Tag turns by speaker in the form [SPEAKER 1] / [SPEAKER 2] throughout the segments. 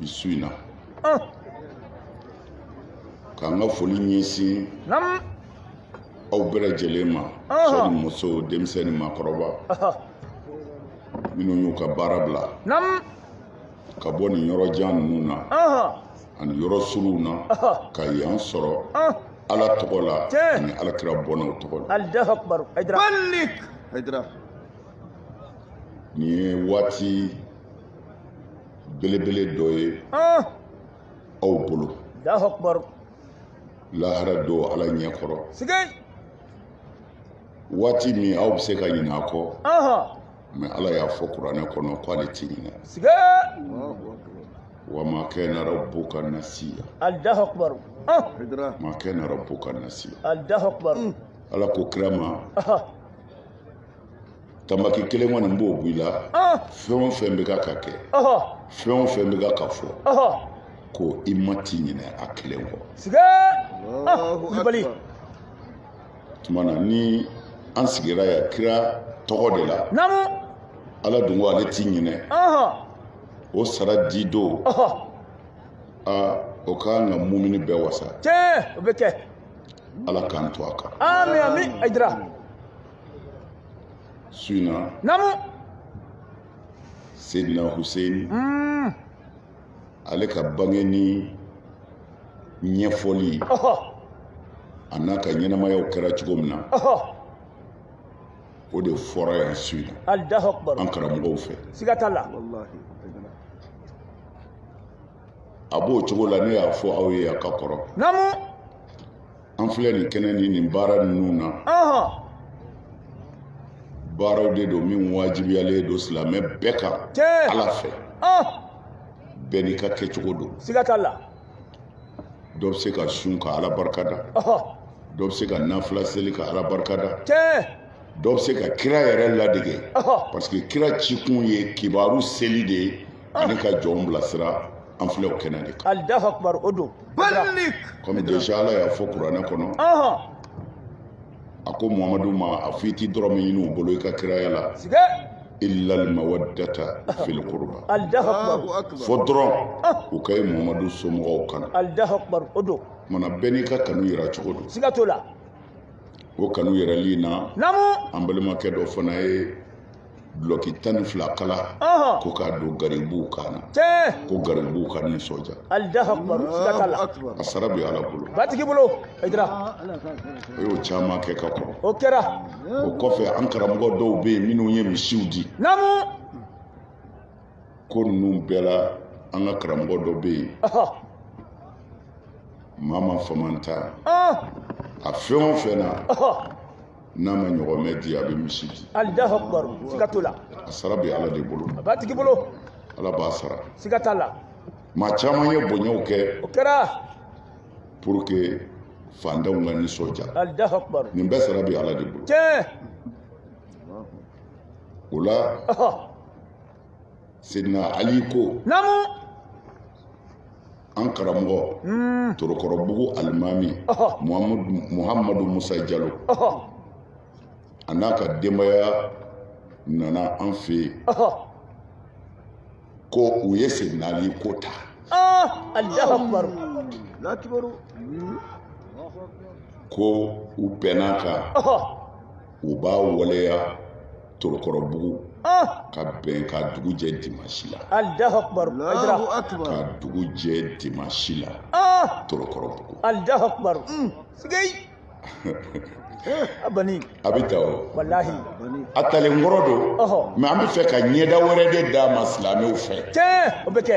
[SPEAKER 1] bi su in na oh. ka n ka foli
[SPEAKER 2] ɲɛsin
[SPEAKER 1] aw bɛɛ lajɛlen ma cɛ ni muso denmisɛn ni maakɔrɔba minnu y'u ka baara bila
[SPEAKER 2] ka bɔ
[SPEAKER 1] nin yɔrɔ jan ninnu na ani yɔrɔ suruw na ka yan sɔrɔ ala tɔgɔ la ani ala kira bɔnnaw tɔgɔ la nin ye waati belebele dɔ ye ah! aw bolo lahara don ala ɲɛ kɔrɔ waati min aw bɛ se ka ɲinɛ a kɔ mais ala y'a fɔ kuranɛ kɔnɔ ko ale ti ɲinɛ wa ma kana rabbuka nasiya allahu akbar
[SPEAKER 2] ah! ma
[SPEAKER 1] kana rabbuka nasiya allahu akbar mm.
[SPEAKER 2] ala ko kira
[SPEAKER 1] ma tambaki kelen kɔni n b'o b'i la fɛn o fɛn bɛ ka ka kɛ fɛn o fɛn bɛ ka ka fɔ ko i ma ti ɲinɛ a kelen kɔ tuma na ni an sigira yan kira tɔgɔ de la
[SPEAKER 2] ala dun
[SPEAKER 1] ko ale ti ɲinɛ o sara di don aa o ka kan ka mumini bɛɛ wasa tiɲɛ o bɛ kɛ
[SPEAKER 2] ala k'an
[SPEAKER 1] to a kan ami ami a jira Su in na. Namu. Seydina Hussein. Mm. Ale ka bange ni ɲɛfɔli. Ɔhɔ. A n'a ka ɲɛnamayaw kɛra cogo min na. Ɔhɔ. O de fɔra yan su in na. Alahu akibaru. An
[SPEAKER 2] karamɔgɔw
[SPEAKER 1] fɛ. Siga t'a la. Walahi. A b'o cogo la ne y'a fɔ aw ye a ka kɔrɔ. Namu. an filɛ nin kɛnɛ ni nin baara ninnu na baaraw de don min wajibiyalen don silamɛ bɛɛ kan ala fɛ bɛɛ n'i ka kɛcogo don siga t'a la dɔ bɛ se ka sun ka ala barika da dɔ bɛ se ka nafila seli ka ala barika da dɔ bɛ se ka kira yɛrɛ ladege parce que kira cikun ye kibaru seli de ye ani ka jɔnw bilasira an filɛ o kɛnɛ de kan alahu akubaru o
[SPEAKER 2] don balik kɔmi deja
[SPEAKER 1] ala y'a fɔ kuranɛ kɔnɔ ɔhɔn a ko muhamadu ma a fɔ i ti dɔrɔmɛ ɲini u bolo i ka kiraya la sigɛ illa almawaddata fil qurba alahu akubaru Allahu
[SPEAKER 2] akbar. fo
[SPEAKER 1] dɔrɔn u ka ye muhamadu somɔgɔw kanu alahu akubaru o
[SPEAKER 2] don mana bɛɛ n'i ka kanu
[SPEAKER 1] yira cogo don siga t'o la
[SPEAKER 2] o
[SPEAKER 1] kanu yirali na namu an balimakɛ
[SPEAKER 2] dɔ fana
[SPEAKER 1] ye dulɔki tan ni fila kala ko k'a don garibuw kan na ko garibuw ka
[SPEAKER 2] nisɔndiya a sara bɛ ala bolo
[SPEAKER 1] batigi bolo
[SPEAKER 2] o y'o
[SPEAKER 1] caman kɛ ka kɔrɔ o kɛra
[SPEAKER 2] o kɔfɛ an
[SPEAKER 1] karamɔgɔ dɔw bɛ yen minnu ye misiw di ko ninnu bɛɛ la an ka karamɔgɔ dɔ bɛ yen mama famanta a fɛn o fɛn na n'a ma ɲɔgɔmɛ di a bɛ misi di alahu akibaru
[SPEAKER 2] siga t'o la a sara bɛ ala
[SPEAKER 1] de bolo a b'a tigi
[SPEAKER 2] bolo ala b'a sara
[SPEAKER 1] siga t'a la
[SPEAKER 2] maa caman ye
[SPEAKER 1] bonyaw kɛ o kɛra
[SPEAKER 2] pour
[SPEAKER 1] que fantanw ka nisɔndiya alahu akibaru
[SPEAKER 2] nin bɛɛ sara bɛ ala
[SPEAKER 1] de bolo tiɲɛ o la ɔhɔ sedina ali ko naamu an karamɔgɔ hmm. torokɔrɔbugu alimami muhamadu musa jalo a n'a ka denbaya nana an fɛ yen ko u ye sedina ali ko ta ko u bɛnn'a kan u b'a waleya torokɔrɔbugu ka bɛn ka dugu jɛ dimasi
[SPEAKER 2] la ka dugu jɛ
[SPEAKER 1] dimasi la torokɔrɔbugu a
[SPEAKER 2] bɛ ta
[SPEAKER 1] o
[SPEAKER 2] a
[SPEAKER 1] talen kɔrɔ don mais an bɛ fɛ ka ɲɛda wɛrɛ de d'a ma silamɛw fɛ o bɛ kɛ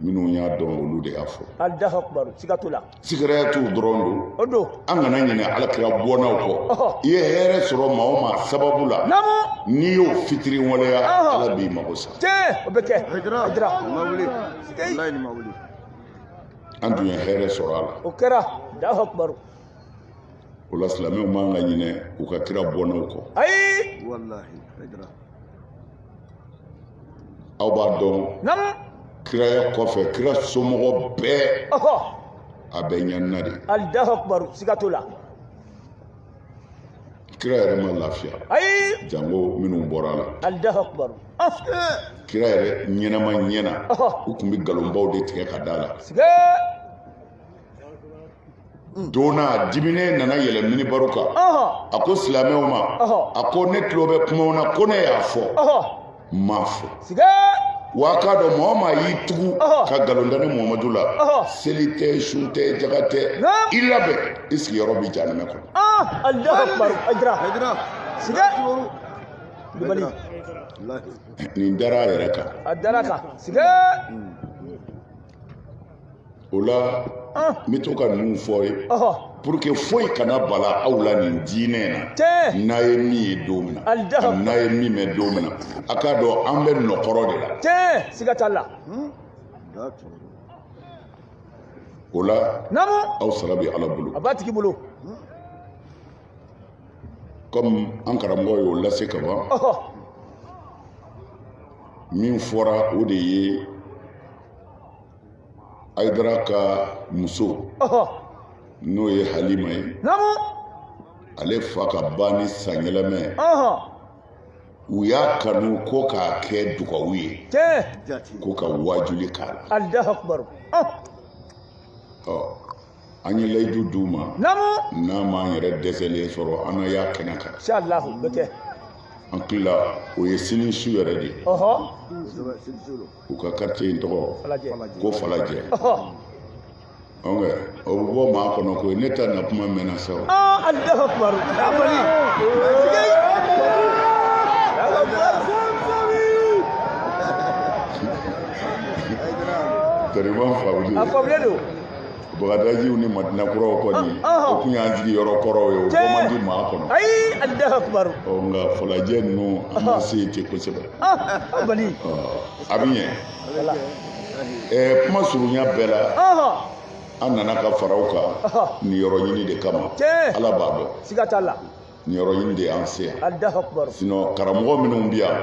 [SPEAKER 1] minnu y'a dɔn olu de y'a fɔ alahu akibaru
[SPEAKER 2] siga t'o la sigɛrɛya t'u
[SPEAKER 1] dɔrɔn don o don an
[SPEAKER 2] kana
[SPEAKER 1] ɲinɛ ala kira bɔnnaw kɔ Ɔhɔ. i ye hɛrɛ sɔrɔ maa o maa sababu la naamu n'i y'o fitiriwaleya Ɔhɔ. ala b'i mago sa tiɲɛ o bɛ kɛ
[SPEAKER 2] Hijira. hijira
[SPEAKER 3] Ma wuli. Sikei. Wallahi ni ma
[SPEAKER 1] wuli. an tun ye hɛrɛ sɔrɔ a la o kɛra
[SPEAKER 2] alahu
[SPEAKER 1] akibaru o la silamɛw man ka ɲinɛ u ka kira bɔnnaw kɔ ayi Wallahi.
[SPEAKER 2] Hijira.
[SPEAKER 1] aw b'a
[SPEAKER 2] dɔn
[SPEAKER 1] kiraya kɔfɛ kira somɔgɔ bɛɛ a bɛɛ ɲanina de alahu akibaru siga
[SPEAKER 2] t'o la
[SPEAKER 1] kira yɛrɛ ma lafiya ayi
[SPEAKER 2] jango minnu
[SPEAKER 1] bɔr'a la alahu
[SPEAKER 2] akibaru kira
[SPEAKER 1] yɛrɛ ɲɛnama ɲɛ na u tun bɛ nkalonbaw de tigɛ ka da a la don na a diminen nana yɛlɛn minibaru kan a ko silamɛw ma a ko ne tulo bɛ kumaw na ko ne y'a fɔ n m'a fɔ
[SPEAKER 2] wa k'a
[SPEAKER 1] dɔn maa o maa y'i tugu ka nkalon da ne muhamadu la seli tɛ sun tɛ jaka tɛ i labɛn i sigiyɔrɔ bɛ jahanama kɔnɔ nin dara a yɛrɛ kan o la n bɛ to ka ninnu fɔ ye pour que foyi kana bala aw la nin diinɛ in na n'a ye min ye don min na ani n'a ye min mɛn don min na a k'a dɔn an bɛ nɔkɔrɔ de la siga t'a la o la aw sara
[SPEAKER 2] bɛ ala
[SPEAKER 1] bolo a b'a tigi bolo comme an karamɔgɔ y'o lase ka ban min fɔra o de ye ayidara ka muso n'o ye halima
[SPEAKER 2] ye
[SPEAKER 1] ale fa ka banni san yɛlɛma u y'a kanu ko k'a kɛ dugawu ye ko ka
[SPEAKER 2] waajuli
[SPEAKER 1] k'a la an ye layidu d'u ma n'a
[SPEAKER 2] m'an
[SPEAKER 1] yɛrɛ dɛsɛlen sɔrɔ an na y'a kɛnɛ
[SPEAKER 2] kan an
[SPEAKER 1] tila o ye sini su yɛrɛ de ye u ka quartier in tɔgɔ ko falajɛ an kɛ o bɛ bɔ maa kɔnɔ ko ne ta na kuma mɛnna
[SPEAKER 2] sa
[SPEAKER 1] o. Tɛrɛman faamulen don. A faamulen
[SPEAKER 2] don.
[SPEAKER 1] bagadajiw ni madina kuraw kɔni ah, ah. o tun y'an sigi yɔrɔ kɔrɔw ye o bɔ man di maa kɔnɔ ayi alahu
[SPEAKER 2] akubaru ɔ nka falajɛ
[SPEAKER 1] ninnu an ma ah. se yen ten kosɛbɛ
[SPEAKER 2] a bɛ
[SPEAKER 1] ɲɛ ɛɛ kuma surunya bɛɛ la an nana ka far'aw kan niyɔrɔ ɲini de kama ala b'a dɔn siga t'a
[SPEAKER 2] la niyɔrɔ ɲini de
[SPEAKER 1] y'an se yan alahu akubaru sinon
[SPEAKER 2] karamɔgɔ minnu
[SPEAKER 1] bɛ yan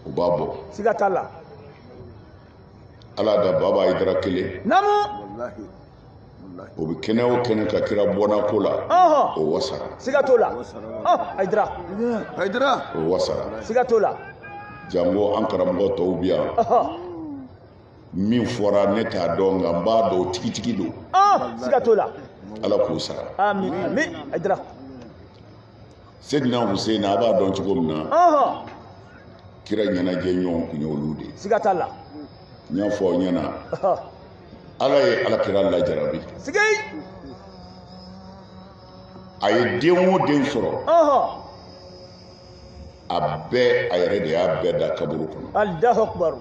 [SPEAKER 1] u b'a bɔ siga t'a la ala da baba ayidara kelen o bɛ kɛnɛ o kɛnɛ kan kira bɔnna ko la o wasara siga t'o la
[SPEAKER 2] ayidara ayidara o wasara siga
[SPEAKER 1] t'o la
[SPEAKER 2] jango
[SPEAKER 1] an karamɔgɔ tɔw bɛ yan min fɔra ne t'a dɔn nka n b'a dɔn tigitigi don siga t'o la
[SPEAKER 2] ala k'o sara
[SPEAKER 1] amin amin
[SPEAKER 2] ayidara
[SPEAKER 1] Seydina Hussein a b'a dɔn cogo min na kira ɲɛnajɛ ɲɔgɔn tun ye olu de ye siga t'a
[SPEAKER 2] la n y'a fɔ aw
[SPEAKER 1] ɲɛna ala ye ala kira lajarabi a ye den o den sɔrɔ a bɛɛ a yɛrɛ de y'a bɛɛ da kaburu kɔnɔ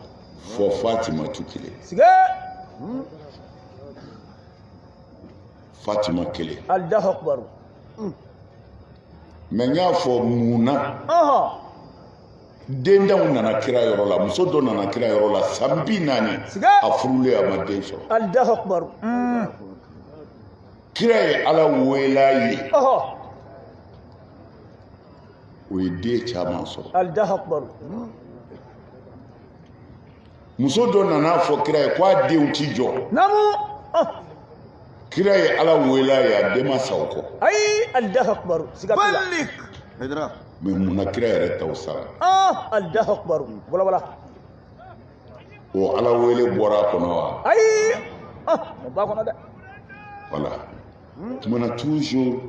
[SPEAKER 2] fo
[SPEAKER 1] Fatimatu kelen fatima kelen allahu akbar mais n y'a fɔ mun na denntanw nana kira yɔrɔ la muso dɔ nana kira yɔrɔ la san bi naani a furulen a ma den sɔrɔ allahu akbar mm. kira ye ala wel'a ye o ye den caman sɔrɔ allahu akbar mm. muso dɔ nana fɔ kira ye k'a denw ti jɔ namu oh. kira ye ala wele a ye a den ma sa o kɔ ayi allahu
[SPEAKER 2] akbar siga t'o la mais mun na
[SPEAKER 1] kira yɛrɛ taw sara ah, allahu akbar walawala o ala wele bɔra a kɔnɔ wa
[SPEAKER 2] ayi ah, o b'a kɔnɔ dɛ voilà
[SPEAKER 1] tumana
[SPEAKER 2] toujours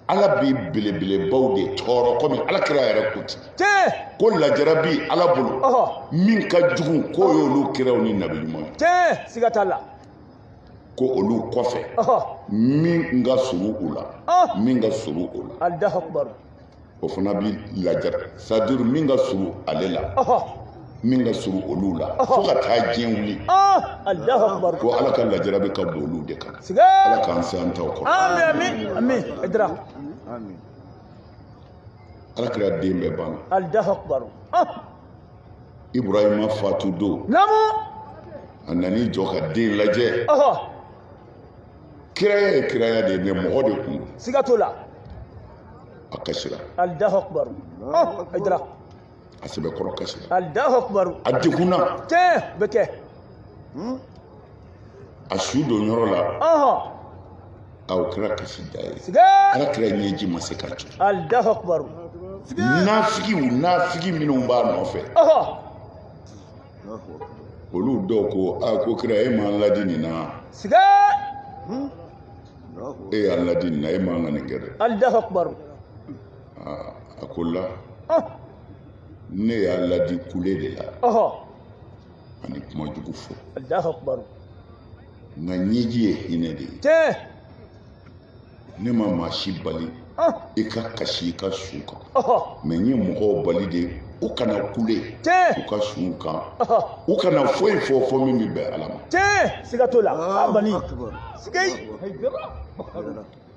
[SPEAKER 1] ala bi belebelebaw de tɔɔrɔ kɔmi ala kira yɛrɛ ko ten ko lajara bi ala bolo min ka jugu k'o y'olu kiraw ni nabi ɲuman ye siga t'a la
[SPEAKER 2] ko
[SPEAKER 1] olu kɔfɛ min ka surun u la min ka surun u la
[SPEAKER 2] o fana
[SPEAKER 1] bi laja c'est-à-dire min ka surun ale la min ka surun olu la fo ka taa diɲɛ
[SPEAKER 2] wuli ko ala ka lajara bɛ ka
[SPEAKER 1] bon olu de kan ala k'an se
[SPEAKER 2] an taw
[SPEAKER 1] kɔrɔ ala kira den bɛɛ
[SPEAKER 2] banna
[SPEAKER 1] ibrahima fatu don
[SPEAKER 2] a nan'i
[SPEAKER 1] jɔ ka den lajɛ kiraya ye kiraya de ye mais mɔgɔ de kun don siga t'o la a kasira allahu
[SPEAKER 2] akbar oh aydara a
[SPEAKER 1] sɛbɛkɔrɔ kasira allahu akbar
[SPEAKER 2] a
[SPEAKER 1] degunna tiɲɛ bɛ kɛ a su don yɔrɔ la ɔhɔn a o kɛra kasi da ye siga ala
[SPEAKER 2] kira
[SPEAKER 1] ɲɛji ma se ka jɔ allahu
[SPEAKER 2] akbar
[SPEAKER 1] nafigiw nafigi minnu b'a nɔfɛ ɔhɔn olu dɔw ko a ko kira e m'an ladi nin na siga e y'an ladi nin na e man ka nin kɛ dɛ allahu akbar a ko la ne y'a ladi kule de la ani kuma jugu fɔ allahu akbar nka ɲɛji ye hinɛ de ye ne ma maa si bali i ka kasi i ka su kan mais n ye mɔgɔw bali de u kana kule u ka suw kan u kana foyi fɔ fo min bɛ bɛn ala ma siga t'o la a
[SPEAKER 2] bani siga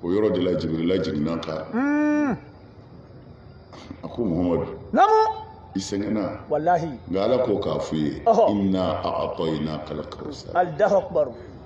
[SPEAKER 1] o yɔrɔ de la jibirila jiginna a kan hmm. a ko muhamadu namu i sɛgɛnna wallahi nka ala
[SPEAKER 2] ko k'a f'i
[SPEAKER 1] ye inna a'tainaka al-kawsar allahu akbar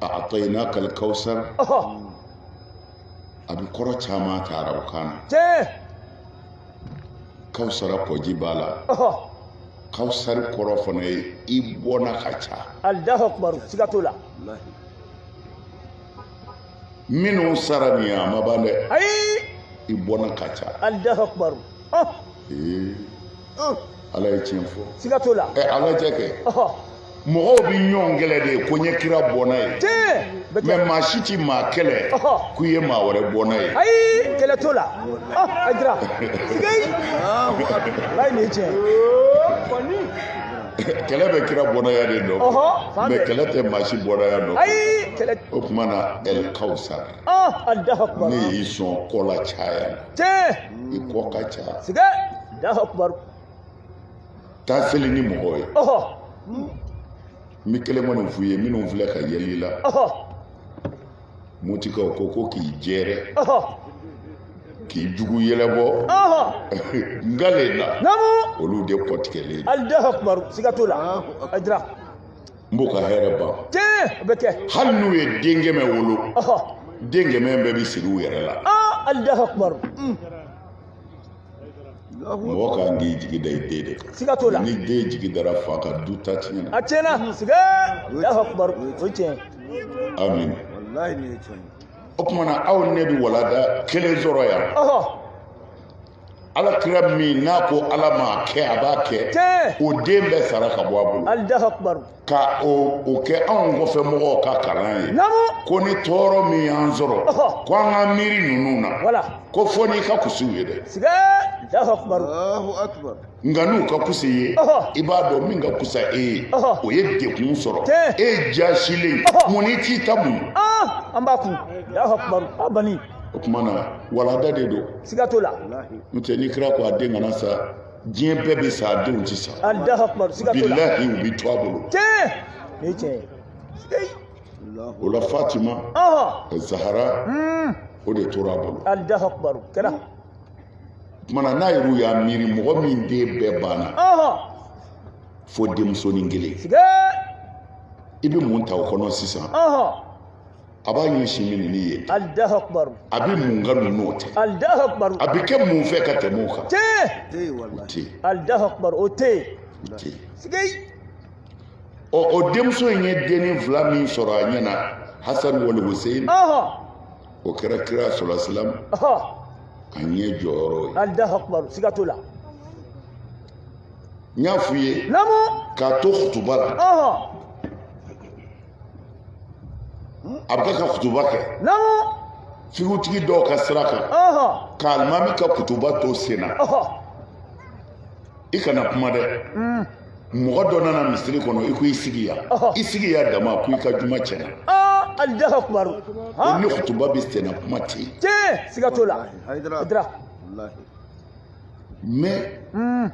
[SPEAKER 1] a'tainaka al-kawsar a bi kɔrɔ caman ta arabukan na kausara kɔji b'a la kausari kɔrɔ fana ye i bɔnna ka ca allahu akbar
[SPEAKER 2] siga t'o
[SPEAKER 1] la minnu sara nin ye a ma ban dɛ ayi i
[SPEAKER 2] bɔnna ka
[SPEAKER 1] ca allahu akbar
[SPEAKER 2] ee
[SPEAKER 1] ala ye tiɲɛ fɔ siga t'o la ɛ a
[SPEAKER 2] lajɛ
[SPEAKER 1] kɛ mɔgɔw bɛ ɲɔgɔn kɛlɛ de ko n ye kira bɔnna ye mɛ maa si ti maa kɛlɛ k'u ye maa wɛrɛ bɔnna ye ayi kɛlɛ t'o la
[SPEAKER 2] a jira siga yi ala ye nin
[SPEAKER 1] tiɲɛ kɛlɛ bɛ kira bɔnnaya de nɔ mɛ kɛlɛ tɛ maa si bɔnnaya nɔ o
[SPEAKER 2] tuma na ɛl kawsar ne y'i sɔn kɔ la
[SPEAKER 1] caya i kɔ ka ca taa seli ni mɔgɔw ye n bɛ kelen kɔni f'u ye minnu filɛ ka yɛlɛ i la mutikaw ko ko k'i jɛrɛ k'i jugu yɛlɛbɔ ngale la olu de
[SPEAKER 2] kɔtigɛlen n b'u
[SPEAKER 1] ka hɛrɛ
[SPEAKER 2] ban hali n'u ye den
[SPEAKER 1] kɛmɛ wolo den kɛmɛ bɛɛ bɛ sigi u yɛrɛ la mɔgɔ ka kan k'i jigi da i den de kan siga t'o la ni den
[SPEAKER 2] jigi dara
[SPEAKER 1] fa kan du ta tiɲɛna a tiɲɛna siga
[SPEAKER 2] allahu akbar o ye tiɲɛ amin walahi nin ye
[SPEAKER 1] tiɲɛ
[SPEAKER 3] o tuma na
[SPEAKER 1] aw ne bɛ walanda kelen sɔrɔ yan ala kira min n'a ko ala m'a kɛ a b'a kɛ o den bɛɛ sara ka bɔ a bolo allahu akbar
[SPEAKER 2] ka
[SPEAKER 1] o kɛ anw kɔfɛ mɔgɔw ka kalan ye ko ni tɔɔrɔ min y'an sɔrɔ ko an ka miiri ninnu na ko fo n'i ka kus'u ye dɛ
[SPEAKER 3] nka n'u ka kus'i
[SPEAKER 1] ye i b'a dɔn min ka kusa e ye o ye degun sɔrɔ e jaasilen mun n'i t'i ta muɲu an b'a kun
[SPEAKER 2] a bani o tuma na
[SPEAKER 1] walanda de don siga t'o la
[SPEAKER 2] n'o tɛ ni kira
[SPEAKER 1] ko a den kana sa diɲɛ bɛɛ bɛ sa a denw tɛ
[SPEAKER 2] sa bilahi u bɛ to a
[SPEAKER 1] bolo o la fatima zahara hmm. o de tora a bolo o tuma na n'aw yɛrɛ y'a miiri mɔgɔ min den bɛɛ banna fo denmusonin kelen i bɛ mun ta
[SPEAKER 2] o kɔnɔ
[SPEAKER 1] sisan a b'a ɲɛsin min ni ye
[SPEAKER 2] a bɛ mun ka
[SPEAKER 1] ninnu o tɛ a
[SPEAKER 2] bɛ kɛ mun fɛ
[SPEAKER 1] ka tɛmɛ
[SPEAKER 3] o kan
[SPEAKER 1] o
[SPEAKER 2] tɛ yen
[SPEAKER 1] ɔ o denmuso in ye denni fila min sɔrɔ a ɲɛ na hasan wal hussein o kɛra kira sɔlasilam a ɲɛ jɔyɔrɔ ye allahu akbar siga t'o la n y'a f'u ye k'a to
[SPEAKER 2] kutuba
[SPEAKER 1] la a bɛ ka kutuba
[SPEAKER 2] kɛ
[SPEAKER 1] figutigi dɔw ka sira kan ka alimami ka kutuba to sen na i kana kuma dɛ mm. mɔgɔ dɔ nana misiri kɔnɔ i ko i sigi yan i sigi yan dama ko i ka juma tiɲɛna alahu
[SPEAKER 2] akbar o ni
[SPEAKER 1] kutuba bɛ sen na kuma tɛ yen siga t'o la
[SPEAKER 3] mɛ
[SPEAKER 1] mm.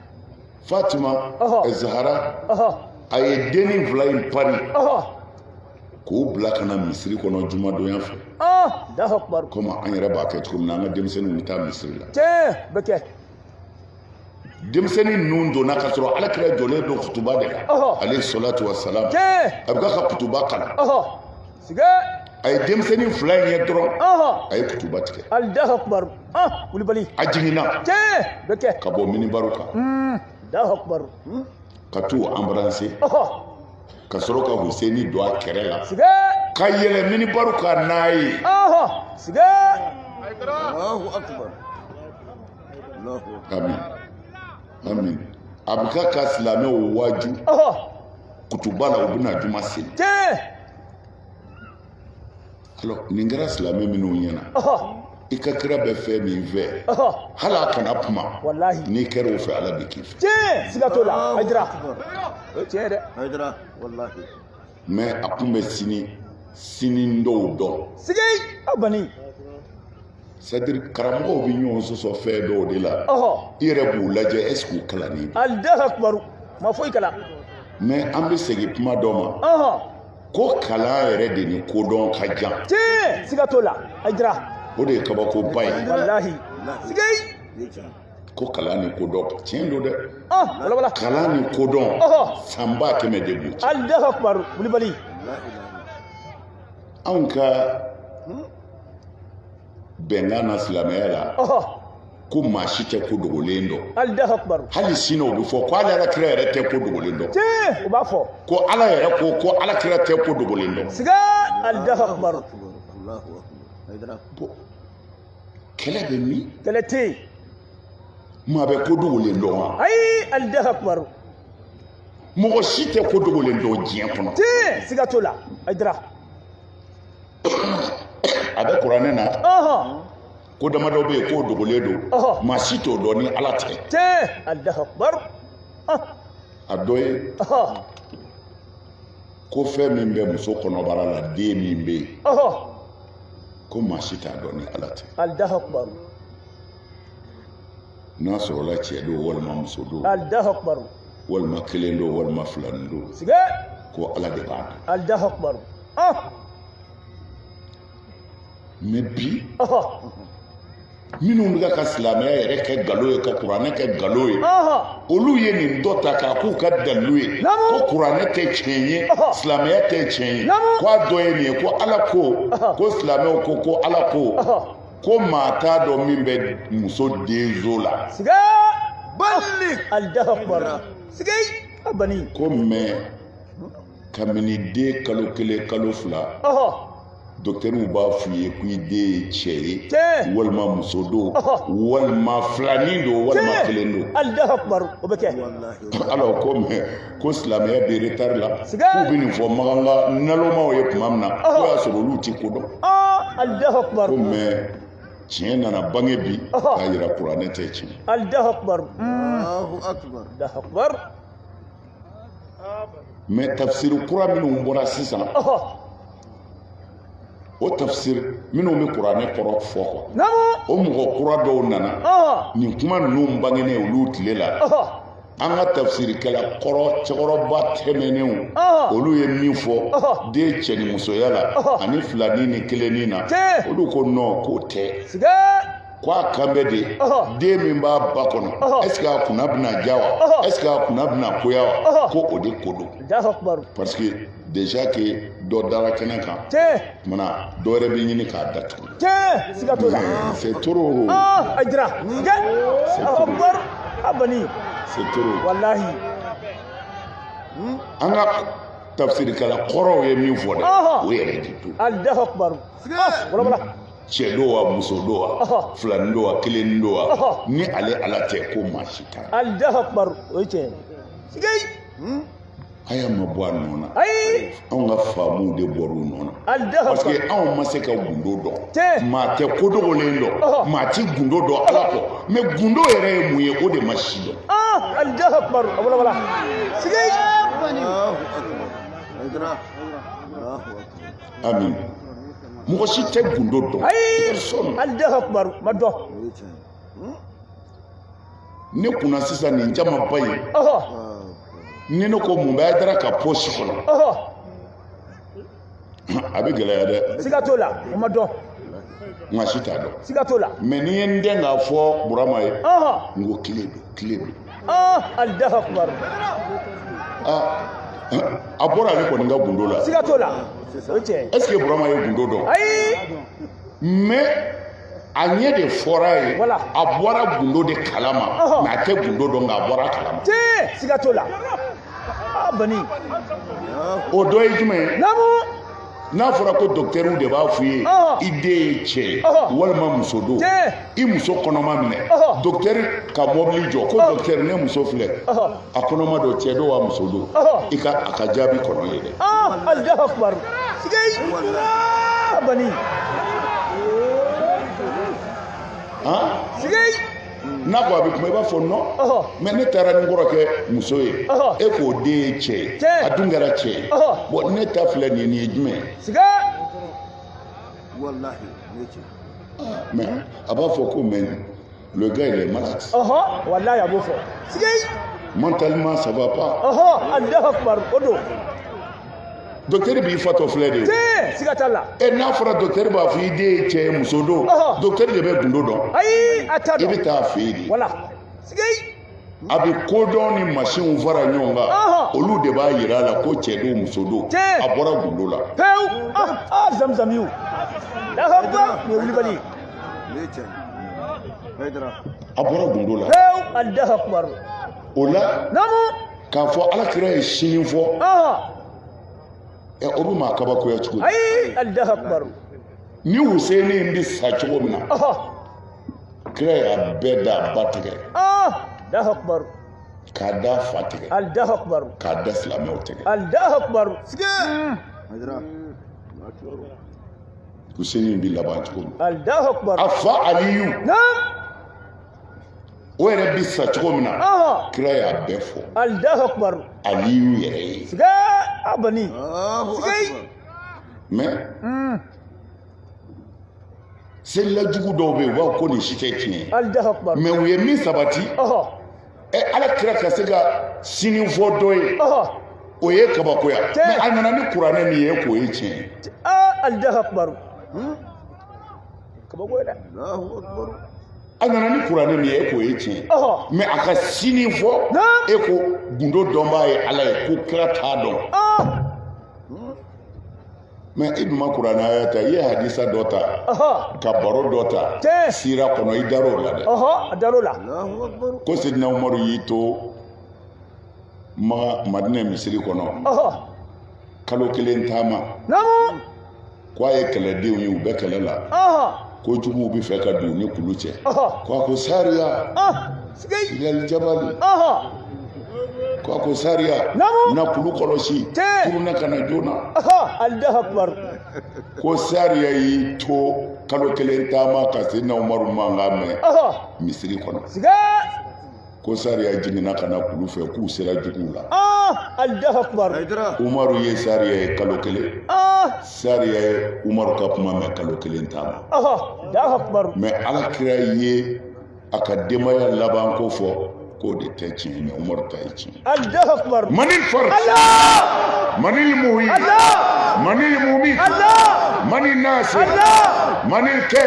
[SPEAKER 1] fatima zahara a ye dennin fila in pari k'o bila ka na misiri kɔnɔ jumadonya fɛ
[SPEAKER 2] komi an yɛrɛ b'a kɛ
[SPEAKER 1] cogo min na an ka denmisɛnninw bɛ taa misiri
[SPEAKER 2] la
[SPEAKER 1] denmisɛnnin ninnu donna ka sɔrɔ ala kira jɔlen don kutuba de la alayhi salatu wa salam a bɛ ka kutuba kalan
[SPEAKER 2] a
[SPEAKER 1] ye denmisɛnnin fila in ye dɔrɔn a ye kutuba tigɛ alahu akbar
[SPEAKER 2] kulubali a
[SPEAKER 1] jiginna bɛ kɛ ka
[SPEAKER 2] bɔ minibaru kan
[SPEAKER 1] alahu akbar
[SPEAKER 2] ka t'u
[SPEAKER 1] anbarase ka sɔrɔ ka huseni don a kɛrɛ la ka yɛlɛ minibaru kan n'a
[SPEAKER 3] ye
[SPEAKER 1] amin amin a bɛ ka ka silamɛw waaju kutuba la u bɛna juma seli Alors, nin kɛra silamɛ minnu ɲɛna i ka kira bɛ fɛn min fɛ hali a kana kuma n'i kɛra o
[SPEAKER 2] fɛ ala bɛ
[SPEAKER 1] k'i fɛ tiɲɛ siga t'o la hayidara
[SPEAKER 2] o ye tiɲɛ ye dɛ hayidara
[SPEAKER 3] walahi mɛ a
[SPEAKER 1] kun bɛ sini sini dɔw dɔn siga bani sadiri karamɔgɔw bɛ ɲɔgɔn sɔsɔ fɛn dɔw de la i yɛrɛ b'u lajɛ ɛseke u kalannen don alahu akbar
[SPEAKER 2] u ma foyi kalan mɛ an bɛ
[SPEAKER 1] segin kuma dɔ ma ko kalan yɛrɛ de ni kodɔn ka jan tiɲɛ siga t'o
[SPEAKER 2] la hayidara o de ye
[SPEAKER 1] kabakoba ye
[SPEAKER 2] walahi siga
[SPEAKER 1] ko kalan ni kodɔn tiɲɛ don dɛ ah, kalan
[SPEAKER 2] ni kodɔn
[SPEAKER 1] san ba kɛmɛ de b'u cɛ alahu akbar kulibali anw ka bɛnkan na silamɛya la ko maa si tɛ ko dogolen dɔn hali
[SPEAKER 2] sini o bɛ fɔ
[SPEAKER 1] ko ala yɛrɛ kira yɛrɛ tɛ ko dogolen dɔn u b'a fɔ
[SPEAKER 2] ko ala yɛrɛ ko
[SPEAKER 1] ko ala kira tɛ ko dogolen dɔn kɛlɛ bɛ min kɛlɛ tɛ
[SPEAKER 2] yen maa
[SPEAKER 1] bɛ ko dogolen dɔn wa ayi alahu
[SPEAKER 2] akbar
[SPEAKER 1] mɔgɔ si tɛ ko dogolen dɔn diɲɛ kɔnɔ tiɲɛ siga t'o
[SPEAKER 2] la hayidara
[SPEAKER 1] a bɛ kuranɛ na ko damadɔ bɛ yen k'o dogolen don maa si t'o dɔn ni ala tɛ tiɲɛ alahu akbar a dɔ ye ko fɛn min bɛ muso kɔnɔbara la den min bɛ yen ko maa si t'a dɔn ni ala tɛ alahu akbar n'a sɔrɔla cɛ don walima muso don alahu akbar
[SPEAKER 2] walima
[SPEAKER 1] kelen don walima filanin don siga
[SPEAKER 2] ko ala de
[SPEAKER 1] b'a dɔn alahu akbar ɔh mais bi ɔhɔ minnu bɛ ka ka silamɛya yɛrɛ kɛ nkalon ye ka kuranɛ kɛ nkalon ye ɔhɔ olu ye nin dɔ ta k'a k'u ka dalilu ye Naamu. ko kuranɛ tɛ tiɲɛ ye Ɔhɔ. silamɛya tɛ tiɲɛ ye Naamu. ko a dɔ ye nin ye ko ala ko Ɔhɔ. ko silamɛw ko ko ala ko ɔhɔ ko maa t'a dɔn min bɛ muso denso la
[SPEAKER 2] siga bali alahu akbar siga a bani ko
[SPEAKER 1] mais kabini den kalo kelen kalo fila ɔhɔ docteurw b'a f'u ye ko i den ye cɛ ye Tiɲɛ. walima muso don Ɔhɔ. walima filanin don walima Tiɲɛ. kelen don alahu akbar o bɛ kɛ
[SPEAKER 2] alors ko mais
[SPEAKER 1] ko silamɛya bɛ retard la k'u bɛ nin fɔ maganga nalomaw ye tuma min na k'o y'a sɔrɔ olu ti ko dɔn
[SPEAKER 2] ko mais
[SPEAKER 1] tiɲɛ nana bange bi k'a yira kuranɛ tɛ tiɲɛ mais tafsiri kura minnu bɔra sisan o tafsiri minnu bɛ kuranɛ kɔrɔ fɔ kɔ o mɔgɔ kura dɔw nana nin kuma ninnu bangenen olu tile la an ka tafsirikɛla kɔrɔ cɛkɔrɔba tɛmɛnenw olu ye min fɔ den cɛ ni musoya la ani filanin ni kelennin na olu ko non k'o tɛ ko a kan bɛ de den min b'a ba kɔnɔ est ce que a kunna bɛna diya wa est ce que a kunna bɛna goya wa ko o de ko don parce que déjà que dɔ dara kɛnɛ kan kumana dɔ wɛrɛ bɛ ɲini k'a datugu
[SPEAKER 2] c'est
[SPEAKER 1] trop ah, a jira
[SPEAKER 2] abani c'est trop
[SPEAKER 1] wallahi
[SPEAKER 2] hmm?
[SPEAKER 1] an ka tafsirikɛla kɔrɔw ye min fɔ dɛ o yɛrɛ de don alahu
[SPEAKER 2] akbar ah, cɛ
[SPEAKER 1] don wa muso don wa filanin don wa kelen don wa ni ale ala tɛ ko maa si t'a la alahu akbar o ye
[SPEAKER 2] tiɲɛ ye
[SPEAKER 1] aya ma bɔ a nɔ na ayi anw ka faamuw de bɔra u nɔ na parce que anw ma se ka gundo dɔn maa tɛ ko dogolen dɔn maa ti gundo dɔn ala kɔ mais gundo yɛrɛ ye mun ye o de ma si dɔn amin mɔgɔ si tɛ gundo dɔn ayi
[SPEAKER 2] ma dɔn
[SPEAKER 1] ne kunna sisan nin jamaba ye ni ne ko mun bɛ hayidara ka pɔsi kɔnɔ a bɛ gɛlɛya dɛ siga t'o la o ma
[SPEAKER 2] dɔn maa si
[SPEAKER 1] t'a dɔn siga t'o la mais
[SPEAKER 2] ni n ye n dɛn k'a
[SPEAKER 1] fɔ burama ye n ko kile don kile don alahu
[SPEAKER 2] akbar
[SPEAKER 1] a bɔra ale kɔni ka gundo la siga t'o la
[SPEAKER 2] o tiɲɛ est ce que burama ye
[SPEAKER 1] gundo dɔn ayi mais a ɲɛ de fɔra ye a bɔra gundo de kalama mais a tɛ gundo dɔn nka a bɔra kalama siga t'o la
[SPEAKER 2] bani
[SPEAKER 1] o dɔ ye jumɛn ye n'a fɔra ko dɔkitɛriw de b'a f'i ye i den ye cɛ ye walima muso don i muso kɔnɔma minɛ dɔkitɛri ka mɔbili jɔ ko dɔkitɛri ne muso filɛ a kɔnɔma don cɛ don wa muso don i ka a ka jaabi kɔnɔ yen dɛ alahu
[SPEAKER 2] akubar sigei bani sigei n'a ko a bɛ kuma i b'a fɔ non mais ne taara ni n kɔrɔkɛ muso ye e k'o den ye cɛ ye a dun kɛra cɛ ye bon ne ta filɛ nin ye nin ye jumɛn ye mais a b'a fɔ ko mais Le gars, il est malade. Oh, oh, walahi a b'o fɔ.
[SPEAKER 1] Mentalement, ça va pas. Oh, oh, Allah Akbar,
[SPEAKER 2] o
[SPEAKER 1] don. dɔktɛri b'i fatɔ filɛ de siga t'a
[SPEAKER 2] la ɛ n'a fɔra dɔktɛri
[SPEAKER 1] b'a fɔ i den ye cɛ ye muso don dɔktɛri de bɛ gundo dɔn ayi a t'a dɔn i bɛ
[SPEAKER 2] taa a fɛ yen de wala a
[SPEAKER 1] bɛ ko dɔn ni masinw fara ɲɔgɔn kan olu de b'a yira a la ko cɛ don muso don a bɔra gundo la pewu
[SPEAKER 2] zamzamiw wulibali
[SPEAKER 1] a bɔra gundo la
[SPEAKER 2] pewu o
[SPEAKER 1] la k'a fɔ ala kira ye sini fɔ ɛ o bɛ maa kabakoya cogo di ni Huseni bɛ sa cogo min na kira y'a bɛɛ da a ba
[SPEAKER 2] tɛgɛ k'a d'a
[SPEAKER 1] fa tɛgɛ k'a
[SPEAKER 2] da silamɛw
[SPEAKER 1] tɛgɛ Huseni bɛ laban cogo min a
[SPEAKER 2] fa
[SPEAKER 1] Aliyu o yɛrɛ bɛ sa cogo min na kira y'a bɛɛ fɔ aliyu
[SPEAKER 2] yɛrɛ ye
[SPEAKER 1] mais selilajugu dɔw bɛ yen u b'a fɔ ko nin si tɛ tiɲɛ mais u ye min
[SPEAKER 2] sabati
[SPEAKER 1] ɛ ala kira ka se ka sini fɔ dɔ ye o ye kabakoya mais a nana ni kuranɛ min ye k'o ye tiɲɛ
[SPEAKER 2] ye kabakoya
[SPEAKER 1] dɛ a nana ni kuranɛ min ye e k'o ye tiɲɛ mais a ka sini fɔ e ko gundo dɔnbaa ye ala ye ko kira t'a dɔn mais i dun ma kuranɛ aya ta i ye hadisa dɔ ta ka baro dɔ ta sira kɔnɔ i dar'o la dɛ a dar'o la
[SPEAKER 2] ko
[SPEAKER 1] sidina umaru y'i to maga madinɛ misiri kɔnɔ kalo kelen taama k'a ye kɛlɛdenw ye u bɛ kɛlɛ la ko juguw bɛ fɛ ka don ni kulu cɛ k'a ko sariya yali jabali k'a ko sariya na kulu kɔlɔsi kuruna ka na
[SPEAKER 2] joona
[SPEAKER 1] ko sariya y'i to kalo kelen taama ka sidina umaru mankan mɛn misiri kɔnɔ ko sariya jiginna ka na kulu fɛ k'u sera juguw la
[SPEAKER 2] ah, umaru
[SPEAKER 1] ye sariya ye kalo kelen ah. sariya ye umaru ka kuma mɛn kalo kelen taama
[SPEAKER 2] mɛ ala kira
[SPEAKER 1] ye a ka denbaya laban ko fɔ k'o de tɛ tiɲɛ mɛ umaru ta ye tiɲɛ
[SPEAKER 2] mani
[SPEAKER 1] fari mani muhi mani mumi mani nasi mani kɛ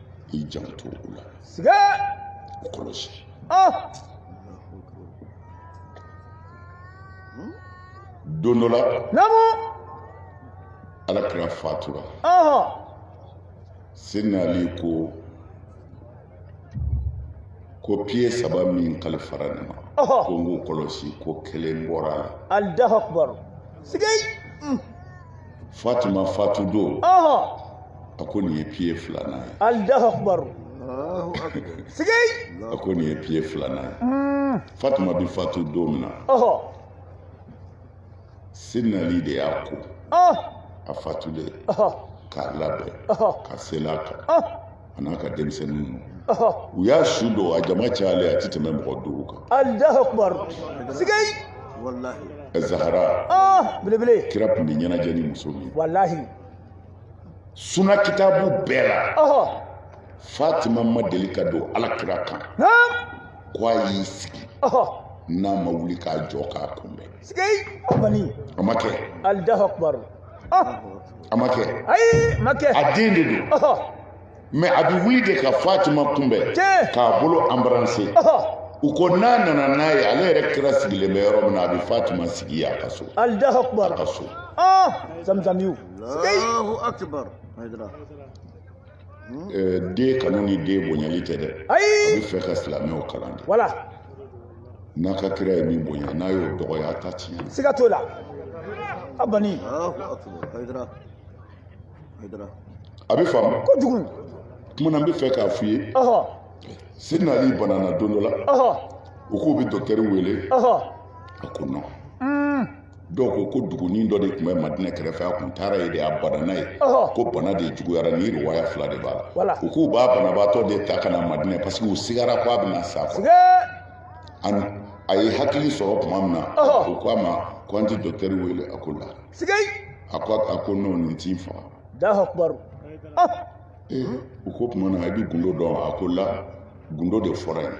[SPEAKER 1] i janto o la
[SPEAKER 2] siga o
[SPEAKER 1] kɔlɔsi don dɔ la namu ala kira fatura sidina ali ko ko piye saba min kalifara ne ma ko n k'o kɔlɔsi ko kelen bɔra a la allahu akbar
[SPEAKER 2] siga
[SPEAKER 1] fatuma fatu don a ko nin ye piye filanan ye alahu akubaru
[SPEAKER 2] sigai a ko
[SPEAKER 1] nin ye piye filanan ye hmm. fatuma bi fatu don min na sidina ali de y'a ko a fatulen k'a labɛn ka seli a kan a n'a ka denmisɛnnin ninnu ɔhɔ u y'a su don a jama cayalen a tɛ tɛmɛ mɔgɔ duuru kan alahu akubar
[SPEAKER 2] sigai
[SPEAKER 3] ɛ zahara
[SPEAKER 1] ah belebele
[SPEAKER 2] kira tun bɛ ɲɛnajɛ
[SPEAKER 1] ni muso min ye. walahi suna kitabu bɛɛ la ɔhɔ fatima ma deli ka don ala kira kan naam ko a y'i sigi ɔhɔ n'a ma wuli k'a jɔ k'a kunbɛn sigai bani
[SPEAKER 2] a ma kɛ
[SPEAKER 1] alahu akubar a ma kɛ ayi ma kɛ
[SPEAKER 2] a den de
[SPEAKER 1] don mɛ a bɛ wuli de ka fatima kunbɛn k'a bolo anbaranse u ko n'a nana n'a ye ale yɛrɛ kira sigilen bɛ yɔrɔ min na a bɛ fatima sigi a ka so a ka so zamzamiyu den kanu ni den bonyali tɛ dɛ a bɛ fɛ ka silamɛw kalan de
[SPEAKER 2] wala n'a
[SPEAKER 1] ka kira ye min bonya n'a y'o dɔgɔya a ta tiɲɛ siga t'o la
[SPEAKER 2] a bani
[SPEAKER 1] a bɛ faamu
[SPEAKER 2] kojugu kuma na n bɛ
[SPEAKER 1] fɛ k'a f'i ye sidina ali banana don dɔ la u k'u bɛ dɔkitɛri wele a ko nɔn dɔw ko ko dugunin dɔ de tun bɛ madinɛ kɛrɛfɛ a tun taara yen de a banana yen ko bana de juguyara ni riwaya fila de b'a la u k'u b'a banabaatɔ de ta ka na madinɛ parce que u sigara ko a bɛna sa quoi a ye hakili sɔrɔ tuma min na u ko a ma ko an ti dɔkitɛri wele a ko la a ko non nin ti n faga u ko tuma na i bɛ gundo dɔn a ko la gundo de fɔra n ye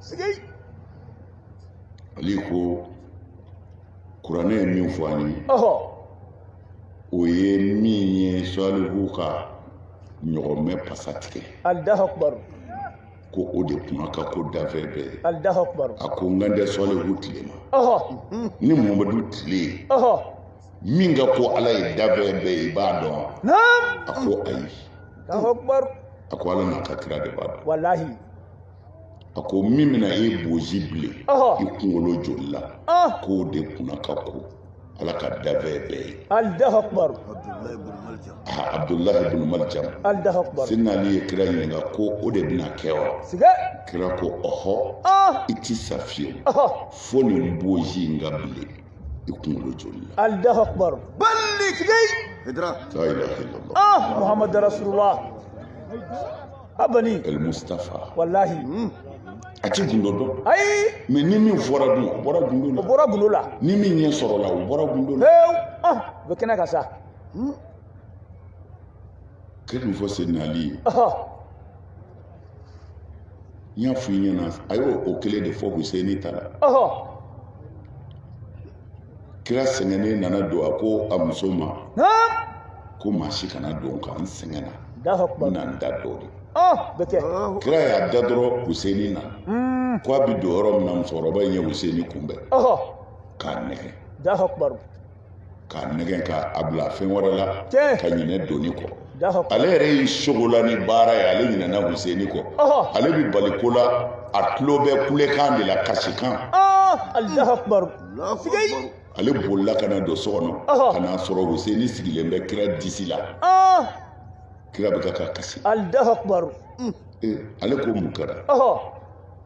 [SPEAKER 1] sigai ali ko kuranɛ ye min fɔ an ye o ye min ye salihu ka ɲɔgɔmɛ pasa tigɛ allahu akbar
[SPEAKER 2] ko
[SPEAKER 1] o de kunna ka ko danfɛn bɛɛ ye allahu akbar a ko
[SPEAKER 2] n kan
[SPEAKER 1] tɛ salihu tile ma ni mamadu tile min ka ko ala ye danfɛn bɛɛ ye i b'a dɔn a ko ayi
[SPEAKER 2] a ko ala n'a ka
[SPEAKER 1] kira de b'a dɔn walahi a ko min bɛna e bozi bilen i kunkolo joli la k'o de kunna ka ko ala ka danfɛn bɛɛ ye
[SPEAKER 2] abdulahi
[SPEAKER 1] ibn maljam sidina
[SPEAKER 2] ali ye kira ɲininka
[SPEAKER 1] ko o de bɛna kɛ wa kira ko ɔhɔ i ti sa fiyewu fo nin bozi in ka bilen i kunkolo joli la allahu akbar
[SPEAKER 2] bali kile la
[SPEAKER 3] ilaha
[SPEAKER 1] illallah muhamadu
[SPEAKER 2] rasulullah abani el
[SPEAKER 1] mustafa wallahi
[SPEAKER 2] hmm.
[SPEAKER 1] a ti gundo dɔn ayi mais
[SPEAKER 2] ni min
[SPEAKER 1] fɔra dun o bɔra gundo la o bɔra gundo la ni
[SPEAKER 2] min ɲɛ sɔrɔla
[SPEAKER 1] o bɔra gundo la fewu ɔn o bɛ kɛnɛ kan
[SPEAKER 2] sa hmm.
[SPEAKER 1] kira ye min fɔ sidina ali ye n y'a fɔ i ɲɛna a y'o kelen de fɔ huseni ta la kira sɛgɛnnen nana don a ko a muso ma ko maa si kana don n kan n sɛgɛnna n na n da dɔ de
[SPEAKER 2] kira y'a da dɔrɔn
[SPEAKER 1] Huseni na hmm. ko a bɛ don yɔrɔ min na musokɔrɔba in ye Huseni kunbɛn k'a nɛgɛ k'a nɛgɛ k'a bila fɛn wɛrɛ la ka ɲinɛ donni
[SPEAKER 2] kɔ
[SPEAKER 1] ale yɛrɛ y'i
[SPEAKER 2] sogola
[SPEAKER 1] ni baara ye ale ɲinɛna Huseni kɔ ale bɛ bali ko la a tulo bɛ kulekan de la kasikan
[SPEAKER 3] ale
[SPEAKER 2] bolila
[SPEAKER 3] ka na
[SPEAKER 1] don so kɔnɔ ka n'a sɔrɔ Huseni sigilen bɛ kira disi la kira bɛ ka kasi
[SPEAKER 2] ale
[SPEAKER 1] ko mun kɛra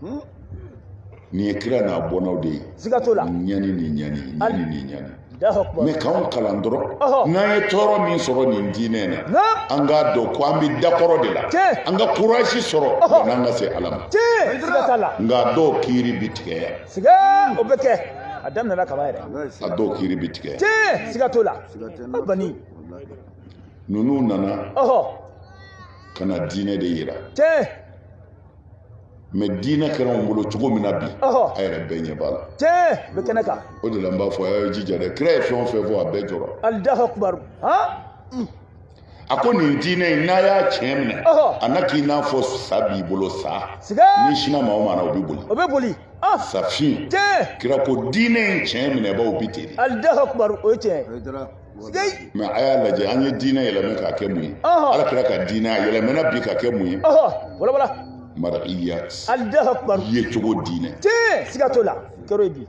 [SPEAKER 1] hmm? nin ye kira n'a bɔnnaw de ye siga t'o la ɲani
[SPEAKER 2] ni ɲani
[SPEAKER 1] ɲani ni ɲani mais
[SPEAKER 2] k'anw kalan
[SPEAKER 1] dɔrɔn n'an ye tɔɔrɔ min sɔrɔ nin diinɛ na an k'a dɔn ko an bɛ dakɔrɔ de la an ka kurasi
[SPEAKER 2] sɔrɔ
[SPEAKER 1] yann'an ka se ala ma
[SPEAKER 2] nka dɔw kiiri
[SPEAKER 1] bɛ tigɛ yan o
[SPEAKER 2] bɛ kɛ a daminɛna kaba yɛrɛ a dɔw kiiri
[SPEAKER 1] bɛ tigɛ yan siga t'o la
[SPEAKER 2] a bani ninnu
[SPEAKER 1] nana ka na diinɛ de yira mɛ diinɛ kɛra anw bolo cogo min na bi a yɛrɛ bɛɛ ɲɛ b'a la tiɲɛ bɛ kɛnɛ
[SPEAKER 2] kan o de la n b'a fɔ a y'a
[SPEAKER 1] jija dɛ kira ye fɛn o fɛn fɔ a bɛɛ jɔra alahu akibaru a ko nin diinɛ in n'a y'a tiɲɛ minɛ a na k'i n'a fɔ sa b'i bolo sa n'i
[SPEAKER 2] sinna maa o maa
[SPEAKER 1] na o bɛ boli o bɛ boli
[SPEAKER 2] safin
[SPEAKER 1] kira ko
[SPEAKER 2] diinɛ in
[SPEAKER 1] tiɲɛ minɛbaaw bɛ ten de alahu akibaru o ye
[SPEAKER 2] tiɲɛ
[SPEAKER 3] mɛ
[SPEAKER 2] a y'a lajɛ
[SPEAKER 1] an ye diinɛ yɛlɛmɛ k'a kɛ mun ye ala kira ka diinɛ a yɛlɛmɛna bi ka kɛ mun
[SPEAKER 2] ye marakiya yecogo diinɛ
[SPEAKER 1] siga t'o la
[SPEAKER 2] kɛr'o ye bi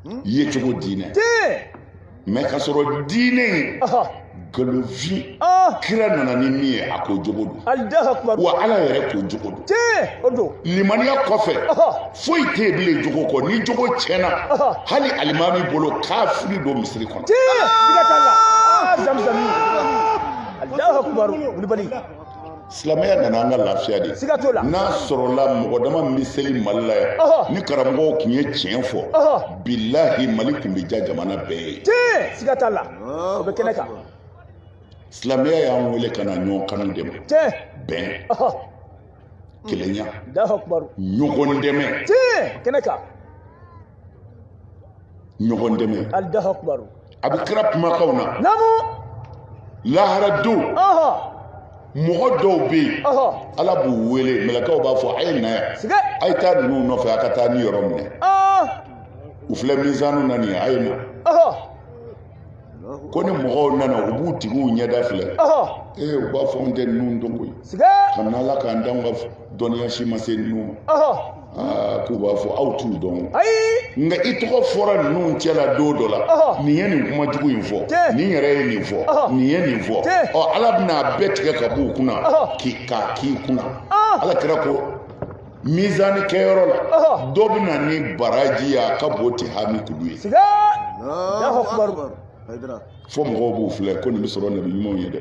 [SPEAKER 2] hmm?
[SPEAKER 1] yecogo
[SPEAKER 2] diinɛ mɛ ka
[SPEAKER 1] sɔrɔ diinɛ in nkalonfin ah. kira nana ni min ye a ko jogo don wa ala
[SPEAKER 2] yɛrɛ ko jogo
[SPEAKER 1] don
[SPEAKER 2] limaniya kɔfɛ
[SPEAKER 1] foyi tɛ yen bilen jogo kɔ ni jogo tiɲɛna hali alimami bolo kafiri don
[SPEAKER 2] misiri kɔnɔ. silamɛya
[SPEAKER 1] nana an ka lafiya de n'a sɔrɔla mɔgɔ dama min bɛ seli mali la yan ni karamɔgɔw tun ye tiɲɛ fɔ bilahi mali tun bɛ ja jamana bɛɛ ye siga t'a la
[SPEAKER 2] o bɛ kɛnɛ kan
[SPEAKER 1] silamɛya y'an wele ka na ɲɔgɔn kanu de ma bɛn
[SPEAKER 2] kelenya ɲɔgɔn
[SPEAKER 1] dɛmɛ kɛnɛ kan ɲɔgɔn dɛmɛ
[SPEAKER 2] a bɛ kira kumakanw
[SPEAKER 1] na lahara don mɔgɔ dɔw bɛ yen ala b'u wele mɛlɛkaw b'a fɔ a ye na yan a ye taa ninnu
[SPEAKER 2] nɔfɛ
[SPEAKER 1] a ka taa niyɔrɔ minɛ u filɛ mizanu na nin ye a ye na ko ni mɔgɔw nana u b'u tigiw ɲɛda filɛ ee u b'a fɔ an tɛ ninnu dɔn koyi kabini ala
[SPEAKER 2] k'an d'anw
[SPEAKER 1] ka dɔnniya si ma se ninnu ma k'u b'a fɔ aw t'u dɔn nka
[SPEAKER 2] i tɔgɔ
[SPEAKER 1] fɔra ninnu cɛ la don dɔ la nin ye nin kuma jugu in fɔ nin yɛrɛ ye nin fɔ nin ye nin fɔ ɔ ala bɛna a bɛɛ tigɛ ka b'u kunna k'i k'a k'i kunna ala kira ko mizani kɛyɔrɔ la dɔ bɛ na ni baraji ye a ka bon tihami kulu
[SPEAKER 3] ye fo mɔgɔw b'u
[SPEAKER 1] filɛ ko nin bɛ sɔrɔ nabi ɲumanw ye dɛ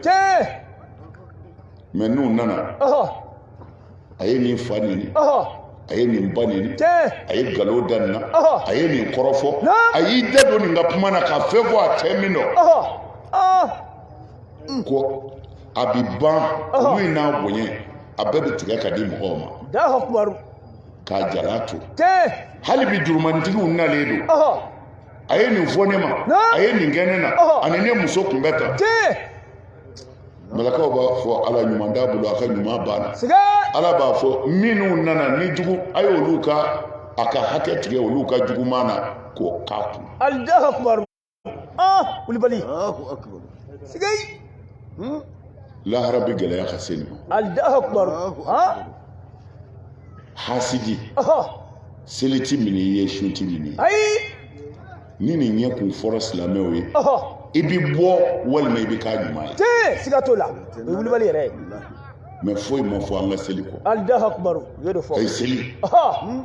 [SPEAKER 1] mɛ n'u nana a ye nin fa neni a ye nin ba neni a ye
[SPEAKER 2] nkalon da
[SPEAKER 1] nin na a ye nin kɔrɔfɔ a y'i da don nin ka kuma na ka fɛn fɔ a tɛ min dɔn ko a bɛ ban kulu in n'a bonya a bɛɛ bɛ tigɛ ka di mɔgɔw
[SPEAKER 2] ma k'a
[SPEAKER 1] jalan to hali bi
[SPEAKER 2] jurumantigiw
[SPEAKER 1] nalen don a ye nin fɔ ne ma a ye nin kɛ ne na a ni ne muso tun bɛ tan malakaw b'a fɔ ala ɲuman t'a bolo a ka ɲuman banna ala
[SPEAKER 2] b'a
[SPEAKER 1] fɔ minnu nana ni jugu a y'olu ka a ka hakɛ tigɛ olu ka juguman na k'o k'a kun
[SPEAKER 2] ah kulubali Allahu
[SPEAKER 3] akbar.
[SPEAKER 2] sigai
[SPEAKER 1] Hmm? lahara bɛ gɛlɛya ka se nin ma allahu akbar Allahu
[SPEAKER 2] ha akbar.
[SPEAKER 1] hasidi aha seli ti minɛ i ye sun ti minɛ i ye. ayi
[SPEAKER 2] ni
[SPEAKER 1] nin ɲɛ kun fɔra silamɛw ye aha i bɛ bɔ walima i bɛ k'a ɲuman ye tiɲɛ siga t'o la
[SPEAKER 2] o ye kulubali yɛrɛ ye mɛ foyi
[SPEAKER 1] ma fɔ an ka seli kɔ allahu akbar u y'o
[SPEAKER 2] de fɔ a ye seli aha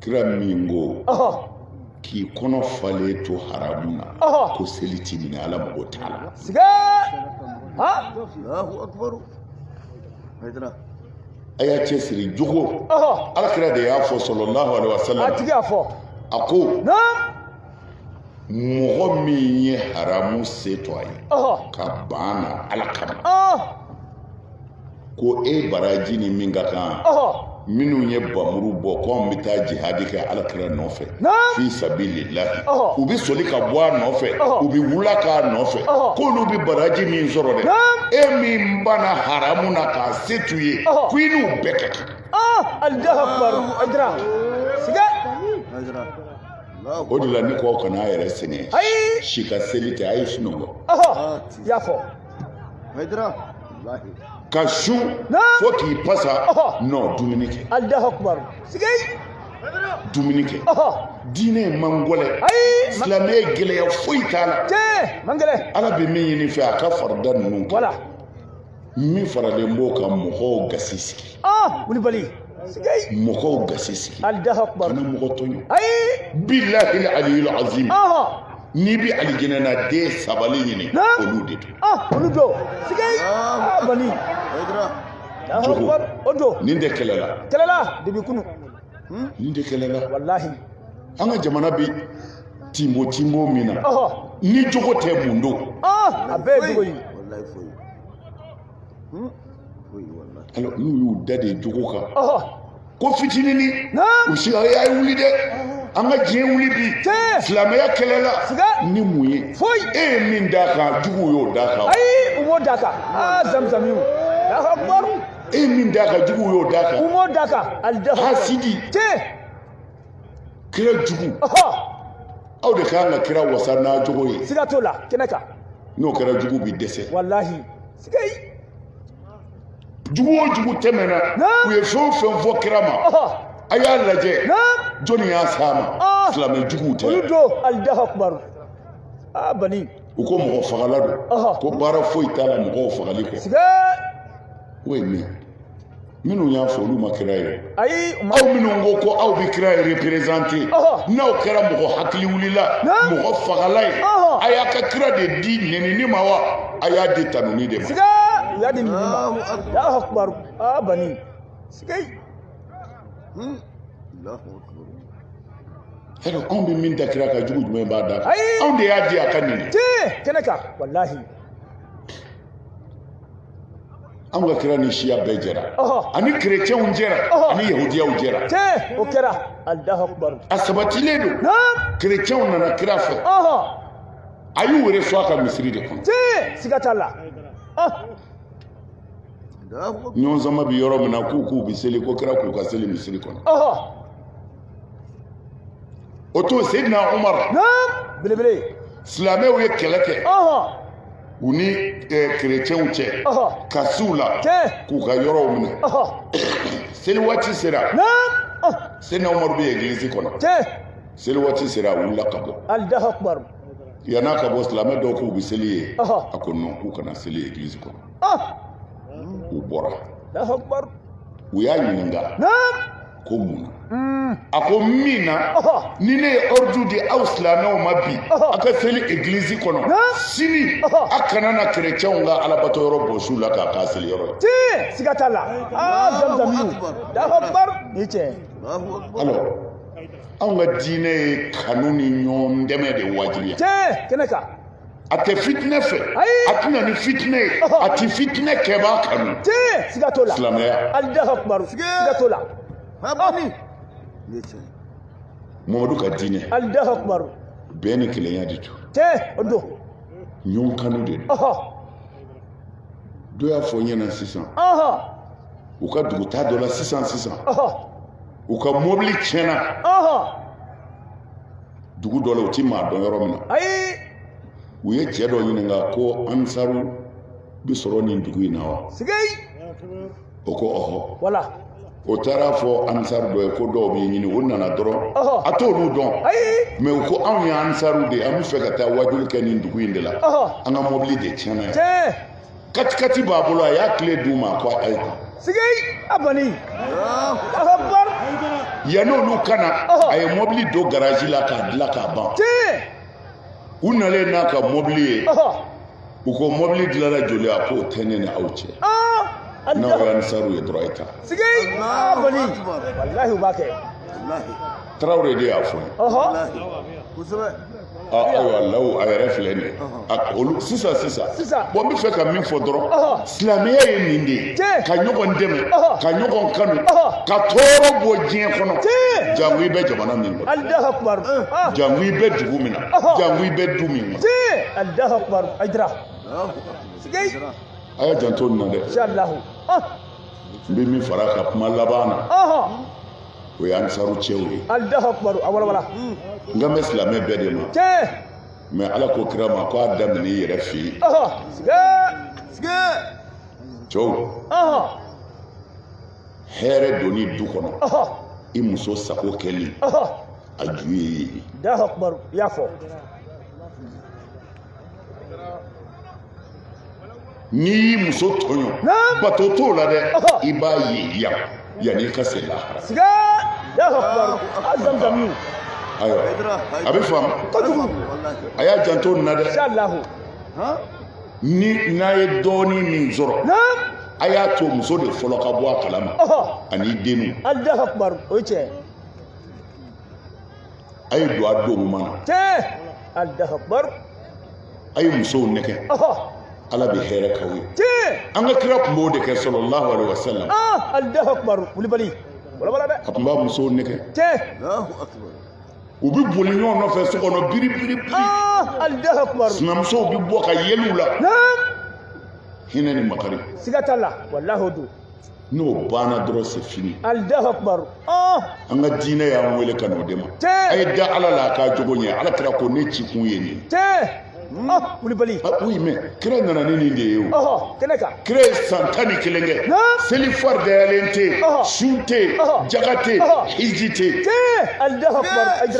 [SPEAKER 1] kira min ko k'i kɔnɔ falen to haramu na ko seli ti minɛ ala mago t'a la a y'a cɛ siri jogo ala kira de y'a fɔ sallallahu alaihi wa sallam a tigi y'a
[SPEAKER 2] fɔ a ko mɔgɔ
[SPEAKER 1] min ye haramu se to a ye ka ban a na ala kama ko e baraji ni min ka kan minnu ye bamuru bɔ ko an bɛ taa jihadi kɛ alakira nɔfɛ fi sabilillahi u bɛ soli ka bɔ a nɔfɛ u bɛ wula k'a nɔfɛ k'olu bɛ baraji min sɔrɔ dɛ e min banna haramu na k'a se to i ye ko i n'u bɛɛ ka kan. o de la ne ko kana a yɛrɛ sɛgɛn si ka seli tɛ a ye sunɔgɔ y'a fɔ
[SPEAKER 3] Haydara. Wallahi. Ka
[SPEAKER 1] sun Na. fo k'i pasa Ɔhɔ. non dumuni kɛ Allahu akbar.
[SPEAKER 2] Sigei.
[SPEAKER 1] dumuni kɛ Ɔhɔ. diinɛ man gɔlɛ Ayi. Ma- silamɛya gɛlɛya foyi t'a la Tee. Man gɛlɛ.
[SPEAKER 2] ala bɛ min ɲini fɛ
[SPEAKER 1] a ka farida ninnu kɛ
[SPEAKER 2] Voilà. min
[SPEAKER 1] faralen b'o kan mɔgɔw gasi sigi Ah, Koulibaly.
[SPEAKER 2] mɔgɔw
[SPEAKER 1] gasi sigi kana
[SPEAKER 2] mɔgɔ
[SPEAKER 1] tɔɲɔ billahi aliyul azim n'i bɛ alijinɛ na dɛ sabali ɲini olu de don olu don
[SPEAKER 2] sigei bani jogo o don nin de
[SPEAKER 1] kɛlɛla kɛlɛla de bi
[SPEAKER 2] kunun nin
[SPEAKER 1] de kɛlɛla
[SPEAKER 2] walahi an ka
[SPEAKER 1] jamana bɛ tinbo tinbo min na ni jogo tɛ mun don a bɛɛ ye jogo
[SPEAKER 2] ye
[SPEAKER 3] Hmm? alors n'u y'u da
[SPEAKER 1] de jogo kan ko fitinini u si a ye wuli dɛ an ka diɲɛ wuli bi silamɛya kɛlɛla ni mun ye e ye min d'a kan juguw y'o d'a kan ayi u m'o d'a
[SPEAKER 2] kan aa zamizamiw e ye min d'a
[SPEAKER 1] kan juguw y'o d'a kan u m'o d'a kan
[SPEAKER 2] hasidi
[SPEAKER 1] kira jugu aw de kan ka kira wasa n'a jogo ye siga t'o la kɛnɛ
[SPEAKER 2] kan n'o kɛra
[SPEAKER 1] jugu bi dɛsɛ walahi
[SPEAKER 2] siga
[SPEAKER 1] yi jugu o jugu tɛmɛna u ye fɛn o fɛn fɔ kira ma a y'a lajɛ jɔnni y'a s'a ma ah. silamɛ juguw tɛ olu don allahu akbar
[SPEAKER 2] aa ah, bani u ko mɔgɔ
[SPEAKER 1] fagala don ko baara foyi t'a la mɔgɔw fagali kɔ o ye min ye minnu y'a fɔ olu ma kira ye ayi aw
[SPEAKER 2] minnu ko
[SPEAKER 1] ko aw bɛ kira ye reperezante n'aw kɛra mɔgɔ hakili wulila mɔgɔ fagala ye a y'a ka kira de di nɛnini ma wa a y'a di tanuni de ma siga u y'a di
[SPEAKER 2] nɛnini ma Allahu akbar aa bani siga
[SPEAKER 1] hmm. alors anw bɛ min da kira kan jugu jumɛn b'a da anw de y'a di a ka nɛni kɛnɛ kan
[SPEAKER 2] walahi
[SPEAKER 1] anw ka kira ni siya bɛɛ jɛra ani kerecɛnw jɛra ani yahudiyaw jɛra o kɛra
[SPEAKER 2] a sabatilen don
[SPEAKER 1] kerecɛnw nana kira fɛ a y'u wele fo a ka misiri de kɔnɔ siga t'a la ɲɔgɔn sama bɛ yɔrɔ min na k'u k'u bɛ seli ko kira k'u ka seli misiri kɔnɔ o to Seydina Umaru
[SPEAKER 2] belebele silamɛw
[SPEAKER 1] ye kɛlɛ kɛ u ni kerecɛnw cɛ ka s'u la k'u ka yɔrɔw minɛ seli waati sera Seydina Umaru bɛ egilizi kɔnɔ seli waati sera a wulila ka
[SPEAKER 2] bɔ yann'a ka
[SPEAKER 1] bɔ silamɛ dɔw k'u bɛ seli yen a ko non k'u kana seli egilizi kɔnɔ u bɔra
[SPEAKER 2] u y'a ɲininka
[SPEAKER 1] ko mun na hmm. a ko min na ni ne ye ordre di aw silamɛw ma bi a ka seli église kɔnɔ sini a kana na chrétienw ka alabato yɔrɔ bɔs'u la k'a k'a seli yɔrɔ ye tiɲɛ siga t'a
[SPEAKER 2] la aa zamzamiw Allahu akbar ni
[SPEAKER 1] cɛ alors anw ka diinɛ ye kanu ni ɲɔgɔn dɛmɛ de wajibiya tiɲɛ kɛnɛ kan
[SPEAKER 2] a tɛ
[SPEAKER 1] fitinɛ fɛ a tɛ na ni fitinɛ ye a tɛ fitinɛ kɛbaa kanu siga t'o
[SPEAKER 2] la silamɛya Allahu akbar
[SPEAKER 1] siga
[SPEAKER 2] t'o la
[SPEAKER 1] mamadu ka diinɛ Allahu akbar
[SPEAKER 2] bɛɛ ni
[SPEAKER 1] kelenya de don o
[SPEAKER 2] don
[SPEAKER 1] ɲɔgɔn kanu de don dɔ y'a fɔ n ɲɛna sisan u ka dugutaa dɔ la sisan sisan u ka mobili tiɲɛna dugu dɔ la u ti maa dɔn yɔrɔ min na ayi u ye cɛ dɔ ɲininka ko ansaru bi sɔrɔ nin dugu in na wa siga o ko ɔhɔ wala o
[SPEAKER 2] taara
[SPEAKER 1] a fɔ ansaru dɔ ye ko dɔw b'i ɲini o nana dɔrɔn Ɔhɔ. a t'olu dɔn ayi mɛ u ko anw ye ansaru de ye an bɛ fɛ ka taa wajuli kɛ nin dugu in de la Ɔhɔ. an ka mɔbili de tiɲɛna yan tiɲɛ katikati b'a bolo a y'a kile d'u ma ko a ye siga a bani akbar yanni olu ka na a ye mɔbili don garaji la k'a dilan k'a ban u nalen n'a ka mɔbili ye u ko mɔbili dilanna joli a k'o tɛ ne ni aw cɛ n'aw ye ansaru ye dɔrɔn a ye taa siga a bani walahi
[SPEAKER 2] u b'a kɛ
[SPEAKER 1] tarawele de y'a fɔ ayiwa law a yɛrɛ filɛ nin ye olu sisan sisan bon n bɛ fɛ ka min fɔ dɔrɔn silamɛya ye nin de ye ka ɲɔgɔn dɛmɛ ka ɲɔgɔn kanu ka tɔɔrɔ bɔ diɲɛ kɔnɔ jango i bɛ jamana min kɔnɔ jango i bɛ dugu min na jango i bɛ du min kɔnɔ a y'a janto nin na dɛ n bɛ min fara a ka kuma laban na o ye ansaru cɛw ye alahu akibaru a walawala n kan bɛ silamɛ bɛɛ de ma tiɲɛ mais ala ko kira ma ko a daminɛ i yɛrɛ fɛ yen ɔhɔ sige sige cɛw ɔhɔ hɛrɛ donni du kɔnɔ ɔhɔ i muso sago kɛli ɔhɔ a ju ye i ye alahu akibaru i y'a fɔ n'i y'i muso tɔɲɔ bato t'o la dɛ i b'a ye yan yanni i ka se lahara ayiwa a bɛ faamu a y'a janto nin na dɛ ni n'a ye dɔɔnin min sɔrɔ a y'a to muso de fɔlɔ ka bɔ a kalama ani denw. Alahu akibaru o ye tiɲɛ ye. a ye don a don ɲuman na tee alahu akibaru a ye musow nɛgɛ ɔhɔ ala bɛ hɛrɛ k'aw ye tee an ka kira tun b'o de kɛ sallallahu alaihi wasallam ah alahu akibaru kulibali a walawala dɛ a tun b'a musow nɛgɛ tee u bɛ boli ɲɔgɔn nɔfɛ so kɔnɔ biri biri biri ah alahu akibaru sinamusow bɛ bɔ ka yɛlɛ u la naam hinɛ ni makari siga t'a la walahi o don n'o banna dɔrɔn c'est fini alahu akibaru ah! an ka diinɛ y'an wele ka n'o de ma a ye da ala la a k'a jogo ɲɛ ala kira ko ne ci kun ye nin ah, kulibali ah, oui mais kira nana ni nin de ye o kɛnɛ kan kira ye san tan ni kelen kɛ seli faridayalen tɛ yen sun tɛ yen jaga tɛ yen hiji tɛ yen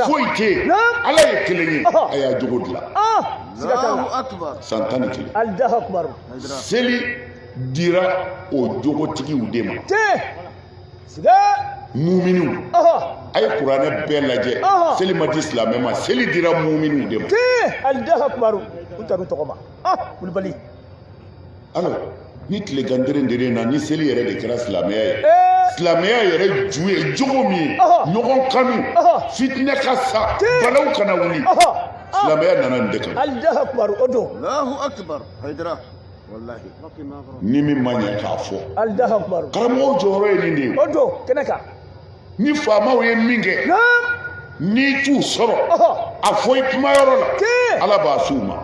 [SPEAKER 1] foyi tɛ yen ala ye kelen ye a y'a jogo dilan san tan ni kelen seli dira o jogotigiw de ma muminiw a ye kuranɛ bɛɛ lajɛ seli ma di silamɛ ma seli dira muminiw de ma alahu akibaru u taru tɔgɔ ma kulibali alors ni tilegan deren deren na ni seli yɛrɛ de kɛra silamɛya ye silamɛya yɛrɛ ju ye jogo min ye ɲɔgɔn kanu fitinɛ ka sa balaw kana wuli silamɛya nana nin de kan alahu akibaru o don alahu akibaru hayidara ni min ma ɲɛ k'a fɔ karamɔgɔw jɔyɔrɔ ye nin de ye ni faamaw ye min kɛ n'i t'u sɔrɔ a fɔ i kumayɔrɔ la ala b'a s'u ma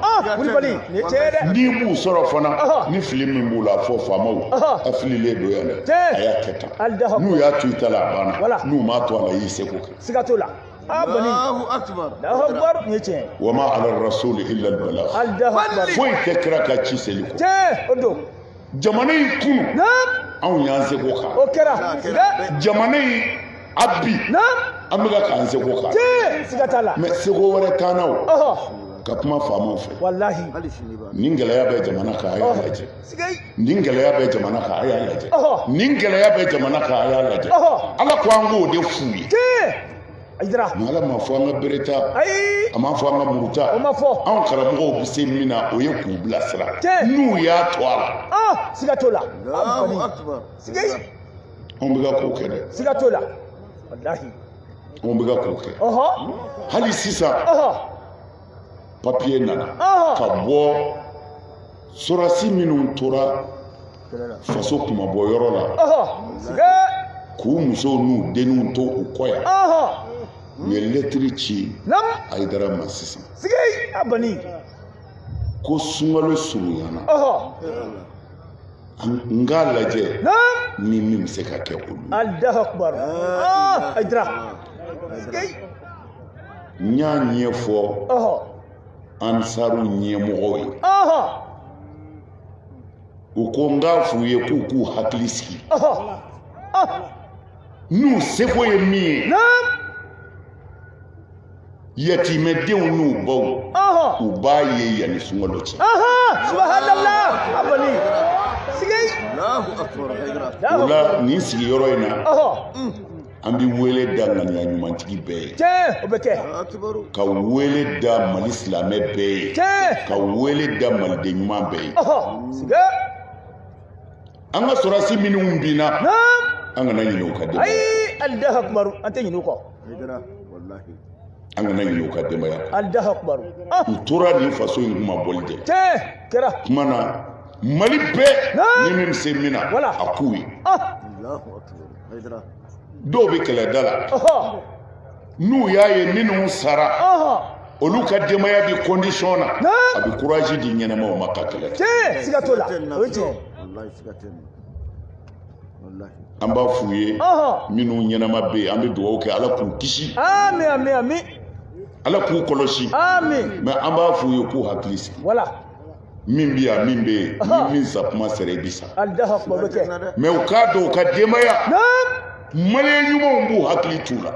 [SPEAKER 1] n'i b'u sɔrɔ fana ni fili min b'u la a fɔ faamaw a fililen don yan dɛ a y'a kɛ tan n'u y'a to i ta la a banna n'u m'a to a la i y'i seko kɛ a banna Allahu akbar Allahu akbar ne ce wa ma ala rasul illa al balagh Allahu akbar foyi tɛ kira kan ci seli kɔ tiɲɛ don jamana in kunu na anw y'an seko kɛ o kɛra jamana in a bi na an bɛka k'an seko kɛ tiɲɛ siga t'a la mais seko wɛrɛ t'an na o ka kuma faamaw fɛ walahi ni gɛlɛya bɛ jamana kan a y'a lajɛ nin gɛlɛya bɛ jamana kan a y'a lajɛ nin gɛlɛya bɛ jamana kan a y'a lajɛ ala ko an k'o de f'u ye tiɲɛ mais ala m'a fɔ an ka bere ta ayi a m'a fɔ an ka muru ta o ma fɔ anw karamɔgɔw bɛ se min na o ye k'u bilasira n'u y'a to a la ah siga t'o la siga anw bɛ ka k'o kɛ dɛ siga t'o la walahi anw bɛ ka k'o kɛ hali sisan papiye nana ka bɔ sorasi minnu tora faso kunmabɔ yɔrɔ la k'u musow n'u denw to u kɔ yan u ye lɛtiri ci ayidara ma sisan ko sunkalo surunyana n k'a lajɛ ni min bɛ se ka kɛ olu. n y'a ɲɛfɔ ansaru ɲɛmɔgɔw ye u ko n k'a f'u ye k'u k'u hakili sigi n'u seko ye min ye yatimɛdenw n'u baw u b'a ye yanni sunkalo cɛ o la nin sigiyɔrɔ in na an bɛ wele da ŋaniya ɲumantigi bɛɛ ye tiɲɛ o bɛ
[SPEAKER 2] kɛ
[SPEAKER 1] ka wele da mali silamɛ bɛɛ ye tiɲɛ ka
[SPEAKER 2] wele da
[SPEAKER 1] maliden ɲuman bɛɛ ye siga an ka sorasi minnu binna an kana ɲinɛ u ka denbaya ayi Allahu
[SPEAKER 2] akbar an tɛ ɲinɛ u kɔ
[SPEAKER 1] an kana ɲinɛ u ka denbaya Allahu akbar
[SPEAKER 2] u tora
[SPEAKER 1] nin faso in kunmabɔli de tiɲɛ kɛra kuma
[SPEAKER 2] na
[SPEAKER 1] mali bɛɛ ni min bɛ se min na a k'u ye dɔw bɛ kɛlɛda la n'u y'a ye minnu sara olu ka denbaya bɛ kɔndisɔn na a bɛ kuraji di ɲɛnamaw ma ka kɛlɛ an b'a f'u ye minnu ɲɛnama bɛ yen an bɛ dugawu kɛ ala k'u kisi
[SPEAKER 2] ala k'u
[SPEAKER 1] kɔlɔsi mɛ an b'a
[SPEAKER 2] f'u ye k'u
[SPEAKER 1] hakili sigi
[SPEAKER 2] min
[SPEAKER 1] bɛ yan min bɛ yen ni min sa kuma sera i bɛ
[SPEAKER 2] sa mais u k'a dɔn u
[SPEAKER 1] ka denbaya maliyɛn ɲumanw b'u hakili t'u la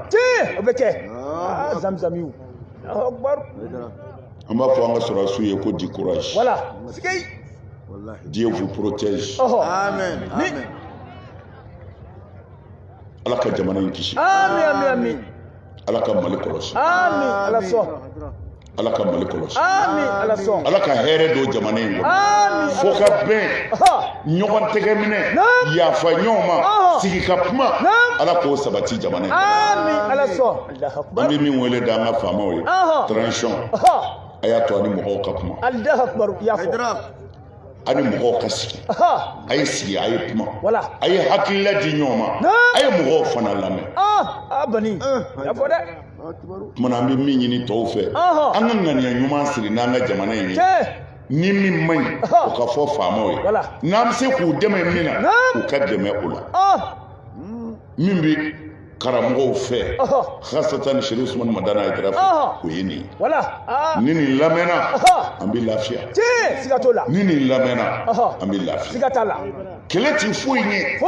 [SPEAKER 1] o bɛ kɛ
[SPEAKER 2] zamizamiw an b'a
[SPEAKER 1] fɔ an ka sɔrɔdasiw ye ko du courage Dieu vous protège. Oh, oh. Amen. Amen. Ala ka jamana in kisi. Amen. Amen.
[SPEAKER 2] Ala ka Mali
[SPEAKER 1] kɔlɔsi. Amen. Ala sɔn.
[SPEAKER 2] ala ka
[SPEAKER 1] mali kɔlɔsi
[SPEAKER 2] ala ka hɛrɛ don jamana
[SPEAKER 1] in kɔnɔ fo ka
[SPEAKER 2] bɛn
[SPEAKER 1] ɲɔgɔn tɛgɛ minɛ yafa ɲɔgɔn ma sigi ka kuma ala k'o sabati jamana in
[SPEAKER 2] an bɛ min wele da an ka
[SPEAKER 1] faamaw ye transition a y'a to a ni mɔgɔw ka kuma
[SPEAKER 2] a
[SPEAKER 1] ni mɔgɔw ka sigi a ye sigi a ye kuma a ye
[SPEAKER 2] hakilila
[SPEAKER 1] di ɲɔgɔn ma a ye mɔgɔw fana lamɛn
[SPEAKER 2] tuma na an bɛ
[SPEAKER 1] min ɲini tɔw fɛ an ka ŋaniya ɲuman siri n'an ka jamana in ye ni min man ɲi o ka fɔ faamaw ye n'an bɛ se k'u dɛmɛ min na u ka dɛmɛ o la min bɛ karamɔgɔw fɛ hasatan sherif usumani madani hayidara fɛ o ye nin ye ni nin lamɛnna an bɛ lafiya ni
[SPEAKER 2] nin lamɛnna
[SPEAKER 1] an bɛ lafiya
[SPEAKER 2] kɛlɛ ti foyi
[SPEAKER 1] ɲɛ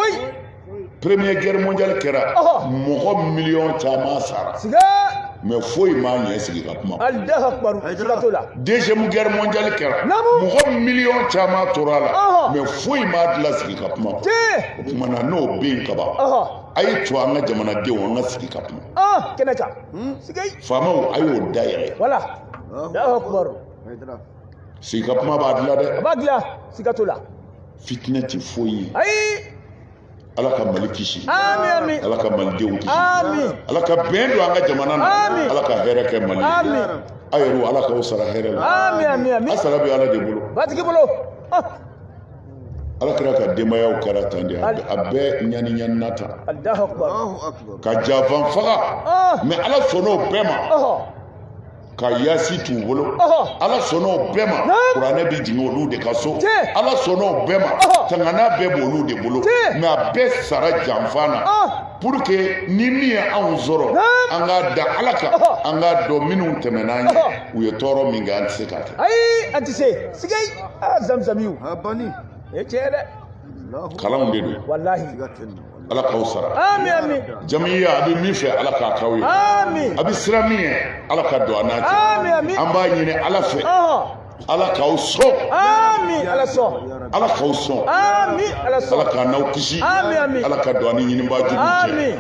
[SPEAKER 2] première
[SPEAKER 1] guerre mondiale kɛra mɔgɔ miliyɔn caman sara mais foyi m'a ɲɛ sigi ka
[SPEAKER 2] kuma deuxième guerre mondiale
[SPEAKER 1] kɛra mɔgɔ miliyɔn caman tora a la mais foyi m'a dilan sigi ka kuma o tuma na n'o bɛ yen kaban a ye to an ka jamanadenw an ka sigi ka kuma kɛnɛ
[SPEAKER 2] kan hmm? faamaw a
[SPEAKER 1] y'o da yɛlɛ sigi ka kuma b'a dilan dɛ a b'a dilan siga
[SPEAKER 2] t'o la fitinɛ tɛ
[SPEAKER 1] foyi ye
[SPEAKER 2] ayi ala
[SPEAKER 1] ka mali kisi ami ala
[SPEAKER 2] ka malidenw
[SPEAKER 1] kisi ami ala
[SPEAKER 2] ka bɛn don
[SPEAKER 1] an ka jamana na ami ala ka hɛrɛ kɛ mali ami aw yɛrɛ
[SPEAKER 2] ala k'aw
[SPEAKER 1] sara hɛrɛ la ami ami ami a sara bɛ
[SPEAKER 2] ala de bolo
[SPEAKER 1] batigi bolo
[SPEAKER 2] ah.
[SPEAKER 1] ala kira ka denbayaw kɛra tan de a bɛɛ ɲaniɲanina
[SPEAKER 2] tan ka janfa
[SPEAKER 1] faga ah. mais ala sɔnna o bɛɛ ma ka yasi t'u bolo ala sɔnna o bɛɛ ma kuranɛ bɛ jigin olu de ka so ala sɔnna o bɛɛ ma tangana bɛɛ b'olu de bolo mais a bɛɛ sara janfa na ah. pour que ni min ye anw sɔrɔ an k'a da ala kan an k'a dɔn minnu tɛmɛn'an ɲɛ u ye tɔɔrɔ min kɛ an tɛ se k'a kɛ ayi an tɛ
[SPEAKER 2] se a zamzamiw a bani e tiɲɛ dɛ kalanw de
[SPEAKER 1] don
[SPEAKER 2] walahi ala
[SPEAKER 1] k'aw sara ami ami
[SPEAKER 2] jamiya a bɛ min
[SPEAKER 1] fɛ ala k'a k'aw ye ami a bɛ siran min ɲɛ ala ka don a n'a cɛ ami ami an b'a
[SPEAKER 2] ɲini ala
[SPEAKER 1] fɛ ala k'aw sɔn ami
[SPEAKER 2] ala sɔn ala k'aw sɔn
[SPEAKER 1] ami ala sɔn
[SPEAKER 2] ala k'an n'aw kisi ami
[SPEAKER 1] ami ala ka don
[SPEAKER 2] a ni ɲinibaa
[SPEAKER 1] jugu cɛ ami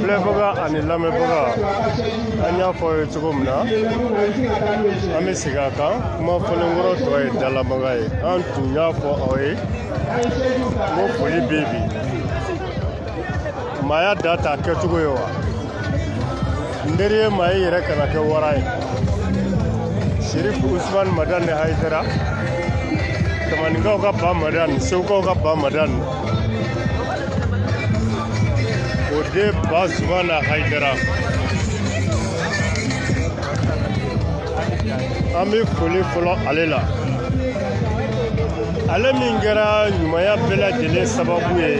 [SPEAKER 4] filɛbaga ani lamɛnbaga an y'a fɔ ye cogo min na an bɛ segin a kan kuma fɔlenkɔrɔ tɔ ye dalamaga ye an tun y'a fɔ aw ye ko foli bɛ bi maaya da t'a kɛcogo ye wa n teri ye maa ye yɛrɛ kana kɛ wara ye sirif usman madani hayidara tamaninkaw ka ba madan segukaw ka ba madan o den ba zumana hayidara an bɛ foli fɔlɔ ale la ale min kɛra ɲumanya bɛɛ lajɛlen sababu ye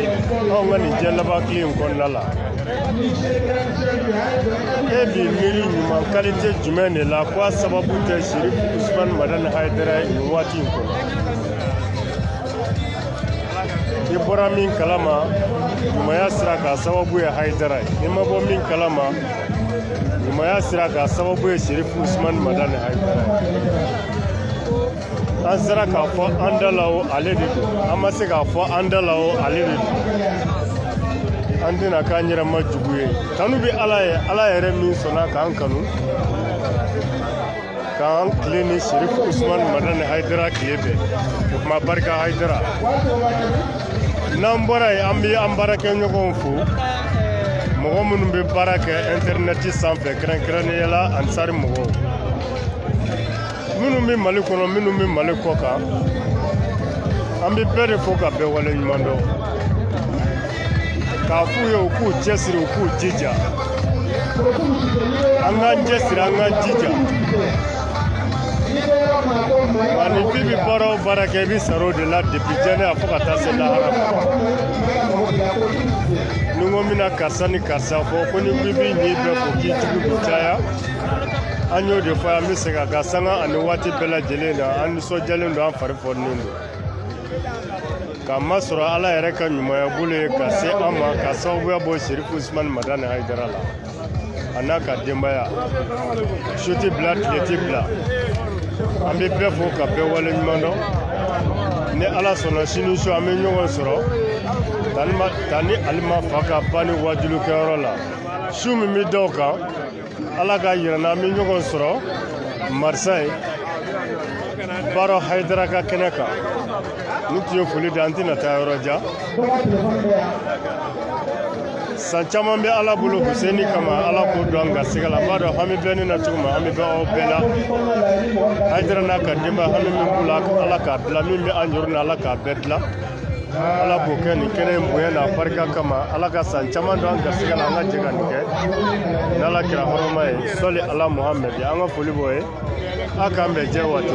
[SPEAKER 4] anw ka nin diɲɛ laban tile in kɔnɔna la e b'i miiri ɲuman kalite jumɛn de la ko a sababu tɛ sirif usumani madani hayidara ye nin waati in kɔnɔ i bɔra min kalama ɲumanya sira k'a sababu ye hayidara ye i ma bɔ min kalama ɲumanya sira k'a sababu ye sirif usumani madani hayidara ye an sera k'a fɔ an da la o ale de don an ma se k'a fɔ an da la o ale de don an tɛna k'an yɛrɛ ma jugu ye tanu bɛ ala ye ala yɛrɛ min sɔnna k'an kanu k'an tile ni sirif usman madani haidara tile bɛn o tuma barika haidara n'an bɔra yen an bɛ an baarakɛɲɔgɔnw fo mɔgɔ minnu bɛ baara kɛ intɛrinɛti sanfɛ kɛrɛnkɛrɛnnenya la ansari mɔgɔw minnu bɛ mali kɔnɔ minnu bɛ mali kɔkan an bɛ bɛɛ de fo ka bɛɛ wale ɲuman dɔn k'a f'u ye u k'u cɛsiri u k'u jija an k'an cɛsiri an k'an jija wa ni bi bɛ baara o baara kɛ i bɛ sara o de la depi diɲɛ yan fo ka taa se lahara ni n ko n bɛna karisa ni karisa fo ko ni bi b'i ɲin bɛɛ fo k'i jugu bɛ caya an y'o de fɔ an bɛ segin a kan sanga ani waati bɛɛ lajɛlen na an nisɔndiyalen don an fari foninen don k'a masɔrɔ ala yɛrɛ ka ɲumanya bolo ye ka se an ma ka sababuya bɔ serifu usumani madani hayidara la a n'a ka denbaya su tɛ bila tile tɛ bila an bɛ bɛɛ fo ka bɛɛ wale ɲuman dɔn ni ala sɔnna sini su an bɛ ɲɔgɔn sɔrɔ tanti alima fa ka banni wajulikɛyɔrɔ la su min bɛ da o kan ala k'a jira an na an bɛ ɲɔgɔn sɔrɔ marisɛyi baro hayidara ka kɛnɛ kan nin tun ye foli da an tɛna taa yɔrɔ jan san caman bɛ ala bolo huseini kama ala k'o don an garisɛgɛ la n b'a dɔn hami bɛ ne na cogo min hami bɛ aw bɛɛ la hayidara n'a ka denbaya hami min b'u la ala k'a dilan min bɛ an yɔrɔ na ala k'a bɛɛ dilan ala b'o kɛ nin kɛnɛ in bonya n'a barika kama ala ka san caman don an garisigɛ la an ka jɛ ka nin kɛ n'ala kira hɔrɔma ye sɔli ala muhamɛdi an ka foli b'o ye a k'an bɛn jɛ waati